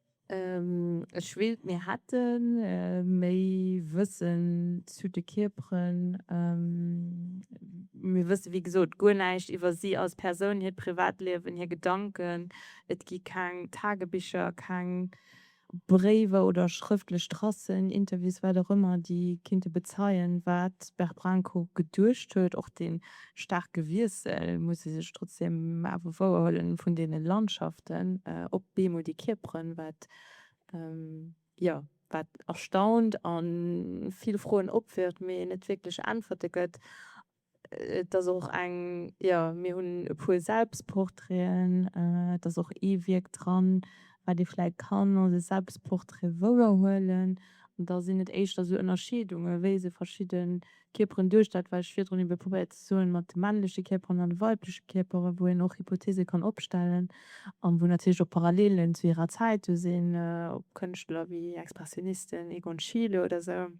Ech wéilt mir hätte méi Wëssen zu de Kierperen. Mir wësse wéi gesot guer näischt iwwer si als Persoun, hiert Privatliewen, hir Gedanken. Et gi keng Tagebicher, keng Bréiwer oder schrëftlech Tracen, Interviews, wat och ëmmer, déi kinnte bezeien, wat d'Bert Brenkow geduecht huet. Och den Staarke Wiessel muss ee sech trotzdeem awer wouerhuelen vun deene Landschaften op beemol déi kierperen, wat jo wat erstaunt a vill Froen opwirft, mee net wierklech Äntwerte gëtt. Et ass och eng, jo mir hunn e puer Selbstportraiten, et ass och ee Wierk dran, wat ee vläit kann als e Selbstportrait wouerhuelen. An da sinn et éischter esou Ënnerscheedungen, wéi se verschidde Kierperen duerch dat, wat ech virdrun ebe probéiert ze soen, mat de männleche Kierperen an de weibleche Kierperen, wou een och Hypotheese kann opstellen an wou natierlech och Parallelen zu hirer Zäit do sinn, op Kënschtler wéi Expressionisten, Egon Schiele oder esou,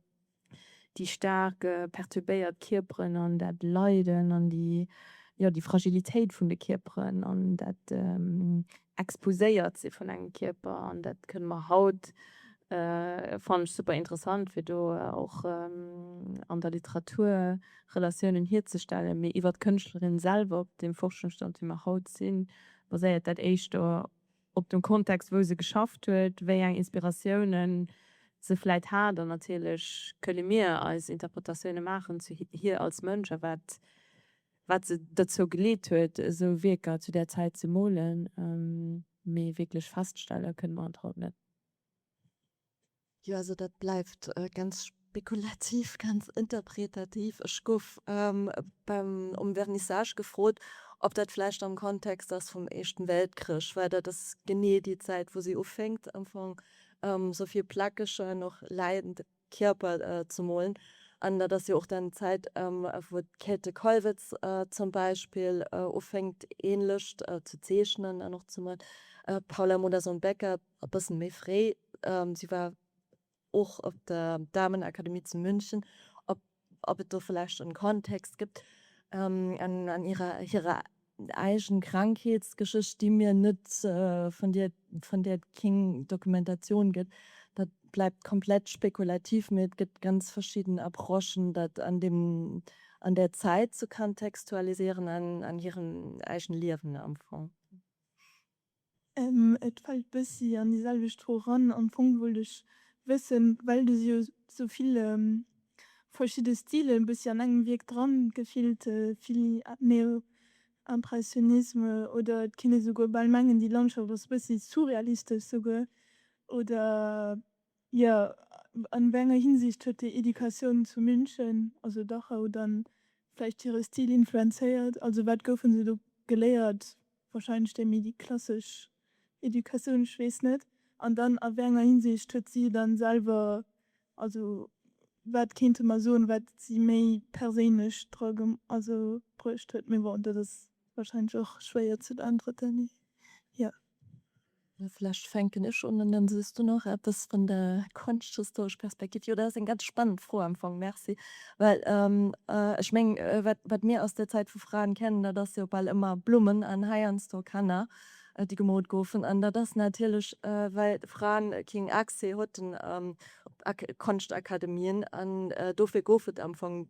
déi staark perturbéiert Kierperen an dat Leiden an déi, jo, déi Fragilitéit vun de Kierperen an dat Exposéiert si vun engem Kierper, an dat kënne mer haut, fannen ech super interessant, fir do och an der Literatur Relatiounen hierzestellen, mee iwwer d'Kënschtlerin selwer, op deem Forschungsstand, wéi mer haut sinn, baséiert dat éischter op dem Kontext, wou se geschafft huet, wéi eng Inspiratiounen se vläicht hat. An natierlech kënne mir eis Interpretatioune maachen zu hir als Mënsch a wat wat se derzou geleet huet, esou Wierker zu där Zäit ze molen, mee wierklech feststelle kënne mer et haut net. Jo, also dat bleift ganz spekulativ, ganz interpretativ. Ech gouf beim, um Vernissage gefrot, ob dat vläicht am Kontext ass vum Éischten Weltkrich, well dat ass genee déi Zäit, wou si ufänkt am Fong, sou vill Plaquechen, och leidend. Kierper ze molen. An dat ass jo och dann d'Zäit, wou d'Käthe Kollwitz zum Beispill ufänkt ähnlecht ze zeechnen an och ze molen. D'Paula Modersohn-Becker e bëssen méi fréi. Si war och op der Damenakademie zu München op ob et do vläicht en Kontext gëtt an hirer eigen Krankheetsgeschicht, déi mir net, vun där, vun där et keng Dokumentatioun gëtt, dat bleibt komplett spekulativ, mee et gëtt ganz verschidden Approchen, dat an dem, an där Zäit ze kontextualisieren an hiren eegen Liewen am Fong. Et fällt bessi an déi selwecht Fro ran. Am Fong wollt ech wëssen, well du jo sou vill verschidde Stilen bessi an engem Wierk dran gefillt, vill Neo-Impressionisme oder et kinnt ee souguer bal mengen déi Landschaft ass bessi surrealistesch souguer oder Jo, an wéi enger Hinsicht huet déi Educatioun zu München, also Dachau, dann vläicht hire Stil influenzéiert? Also wat goufen se do geléiert? Wahrscheinlech déi méi déi klassesch Educatioun, ech weess net. An dann a wéi enger Hinsicht huet si dann selwer, also wat kéinte mer soen, wat si méi perséinlech dra ge, also bruecht huet? Mee bon, dat ass wahrscheinlech och schwéier ze beäntwerten, jo. Jo, vlächcht fänken ech un an dann soos du nach eppes vun der konschthistoresch Perspektiv. Jo, dat ass eng ganz spannend Fro am Fong. Merci. Well ech meng, wat, wat mir aus der Zäit vu Fraen kennen, dat ass jo bal ëmmer Blummen an heiansdo Kanner, déi gemoolt goufen. An dat ass natierlech, well Fraen keen Accès haten op Konschtakademien. An dofir gouf et am Fong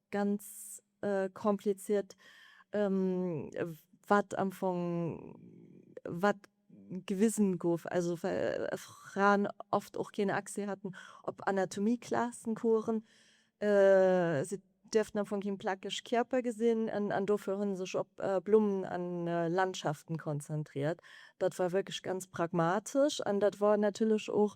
ganz kompliziert wat am Fong wat gewisen gouf, also well Fraen oft och keen Accès haten op Anatomieklasn, Coursen, se duerften am Fong keen plakeg Kierper gesinn an dofir hunn sech op Blummen an Landschaften konzentriert. Dat war wierklech ganz pragmatesch an dat war natierlech och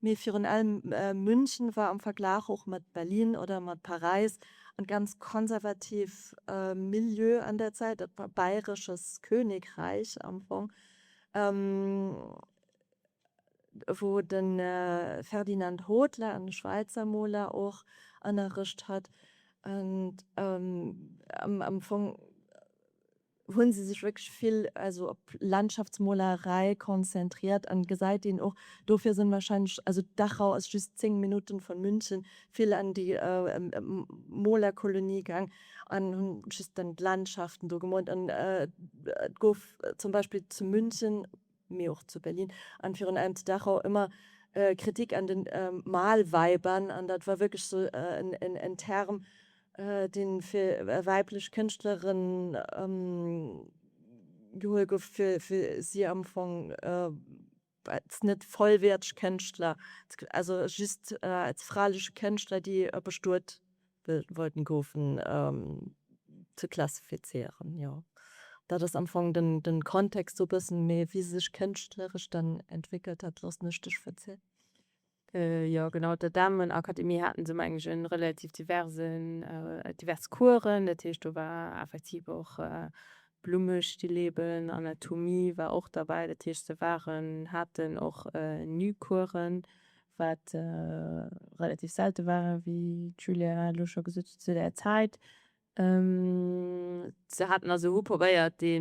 Mee virun allem München war am Verglach och mat Berlin oder mat Paräis e ganz konservativ Milieu an där Zäit, dat war bayresches Königreich am Fong, wou de Ferdinand Hodler, e Schwäizer Moler, och ënnerricht hat. Am Fong. hunn se sech wierklech vill also op Landschaftsmolerei konzentriert an gesäit een och, dofir sinn wahrscheinlech, also Dachau ass just 10 Minutten von München, vill an déi Molerkolonie gaang an hunn just dann d'Landschaften do gemoolt an et gouf zum Beispill zu München, Mee och zu Berlin an virun allem zu Dachau ëmmer Kritik an den Malweibern an dat war wierklech sou en Term deen fir weiblech Kënschtlerin geholl gouf fir si am Fong als net vollwäerteg Kënschtler, also just als fraleche Kënschtler déi e bestuet wollten gofen ze klassifizéieren jo dat ass am fong den den kontext sou bessen mee wie sech kënschtlerisch dann entwéckelt hat loossen ech dech verzielen. Jo genau op der damenakademie haten se mengen ech en relativ diversen divers coursen dat heescht do war effektiv och blummestilleben anatomie war och derbäi dat heescht se waren haten och nu coursen wat relativ selte war, wéi d'Julia elo scho gesot huet, zu där Zäit. Se haten also, hu probéiert, de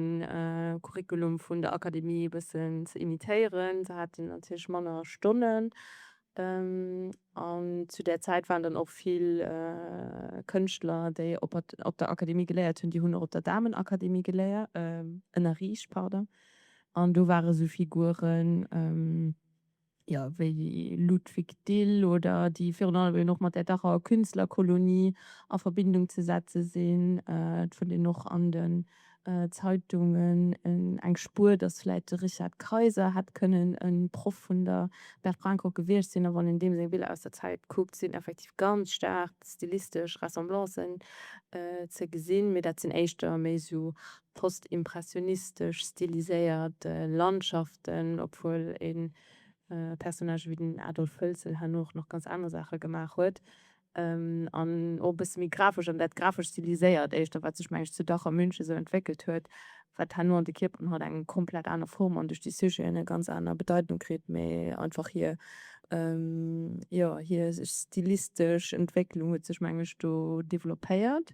Curriculum vun der Akademie e bëssen ze imitéieren. Se haten natierlech manner Stonnen an zu där Zäit waren dann och vill Kënschtler, déi op der Akademie geléiert hunn, déi hunn och op der Damenakademie geléiert, ënnerriicht, pardon, an do ware sou Figuren, jo, wéi de Ludwig Dill oder déi virun allem eben och mat där Dachaer Künstlerkolonie a Verbindung ze setze sinn. Et fënnt een och an den Zeitungen eng Spuer, datt vläicht de Richard Kayser hätt kënnen e Proff vun der Berthe Brancor gewiescht sinn. A wann een deem seng Biller aus der Zäit kuckt, sinn effektiv ganz staark stilistesch Ressemblancen ze gesinn. Mee dat sinn éischter méi esou Postimpressionistesch stiliséiert Landschaften, obwuel e Personnage wéi den Adolf Hölzel herno och nach ganz aner Saache gemaach huet. An och e bësse méi grafesch, an dat grafesch stiliséiert éischter, wat sech, meng ech, zu Dach a Münche esou entwéckelt huet, wat herno an de Kierperen haut eng komplett aner Form an duerch déi Sujeten eng ganz aner Bedeitung kritt, mä einfach hir, jo, hir stilistesch Entwécklung huet sech, meng ech, do developpéiert.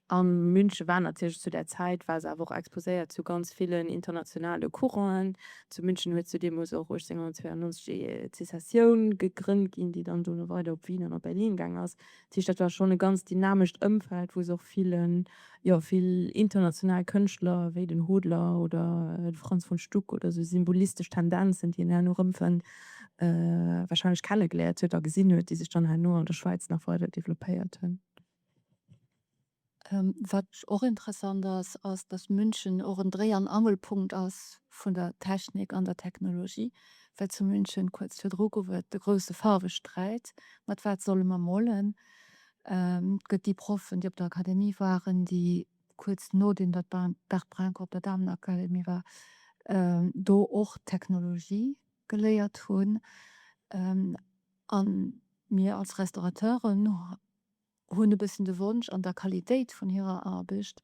A Münche war natierlech zu där Zäit, war se awer och exposéiert zu ganz villen internationale Courant'en. Zu München huet zu deemoos och 1892 déi Sessioun gegrënnt ginn, déi dann dono weider op Wien an op Berlin gaangen ass. Dat heescht, dat war schonn e ganz dynamescht Ëmfeld, wou se och villen Jo, vill international Kënschtler, wéi den Hodler oder de Franz von Stuck, oder esou symbolistesch Tendenzen, déi een herno erëmfënnt, warscheinlech kennegeléiert huet a gesinn huet, déi sech dann herno an der Schwäiz nach weider developpéiert hunn. Wat och interessant ass, ass, datt München och en Dréi an Angelpunkt ass vun der Technik an der Technologie, well zu München kuerz virdru gouf et de grousse Faarwesträit, mat wat solle mer molen? Et gëtt déi Proffen, déi op der Akademie waren, déi kuerz nodeem datt d'Bert Brenker op der Damenakademie war, do och d'Technologie geléiert hunn. A mir als Restaurateuren hunn e bëssen de Wonsch, an der Qualitéit vun hirer Aarbecht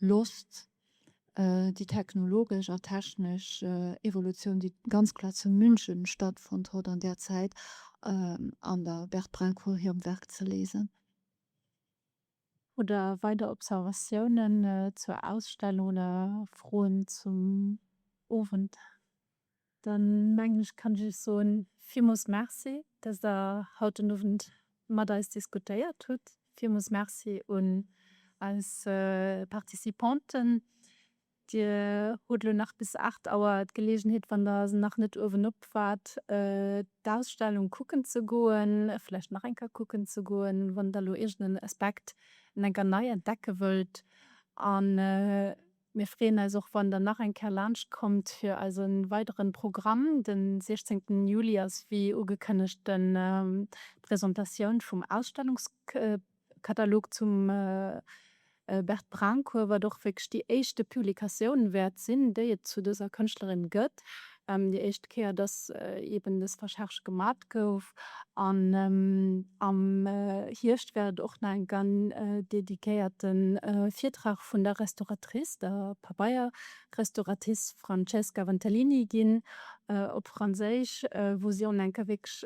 Losst, déi technologesch a technesch Evolutioun, déi ganz kloer zu München stattfonnt huet an där Zäit, an der Berthe Brincourt hirem Werk ze liesen. Oder weider Observatiounen zur Ausstellung oder Froen zum Owend? Dann mengen ech kann ech iech soen villmols Merci dass der haut den Owend mat eis diskutéiert hutt. Villmols Merci un eis Participanten. Dir hutt elo nach bis 8 Auer d'Geleegenheet wann der se nach net uewen op waart d'Ausstellung kucken ze goen, vläicht nach eng Kéier kucken ze goen wann der elo iergenden Aspekt eng enker nei entdecke wëllt an. Mir freeën eis och wann der nach eng Kéier laanscht kommt fir eise weideren Programm. Den 16 Juli ass wéi ugekënnegt den Presentatioun vum Ausstellungskatalog zum Bert Braunkoewer, wat och wierklech déi éischte Publikatioun wäert sinn déi et zu dëser Kënschtlerin gëtt. Déi éischt Kéier, dass eeben dës Recherche gemat gouf. An am Hierscht wäert et och nach eng gan dedikéierte Virtrag vun der Restauratrice, der Pabeierrestauratis Francesca Ventellini ginn, op Franséisch, wou si en enke wierklech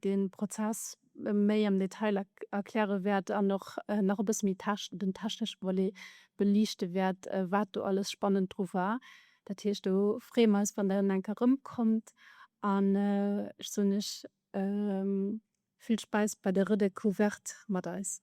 de Prozess méi am Detail erkläre wäert an och nach e bësse méi den technesche Volet beliichte wäert, wat do alles spannend dru war. Dat heescht, do freeë mer eis, wann Der eng Kéier erëmkommt an ech soen lech vill Späiss bei der Redécouverte mat eis.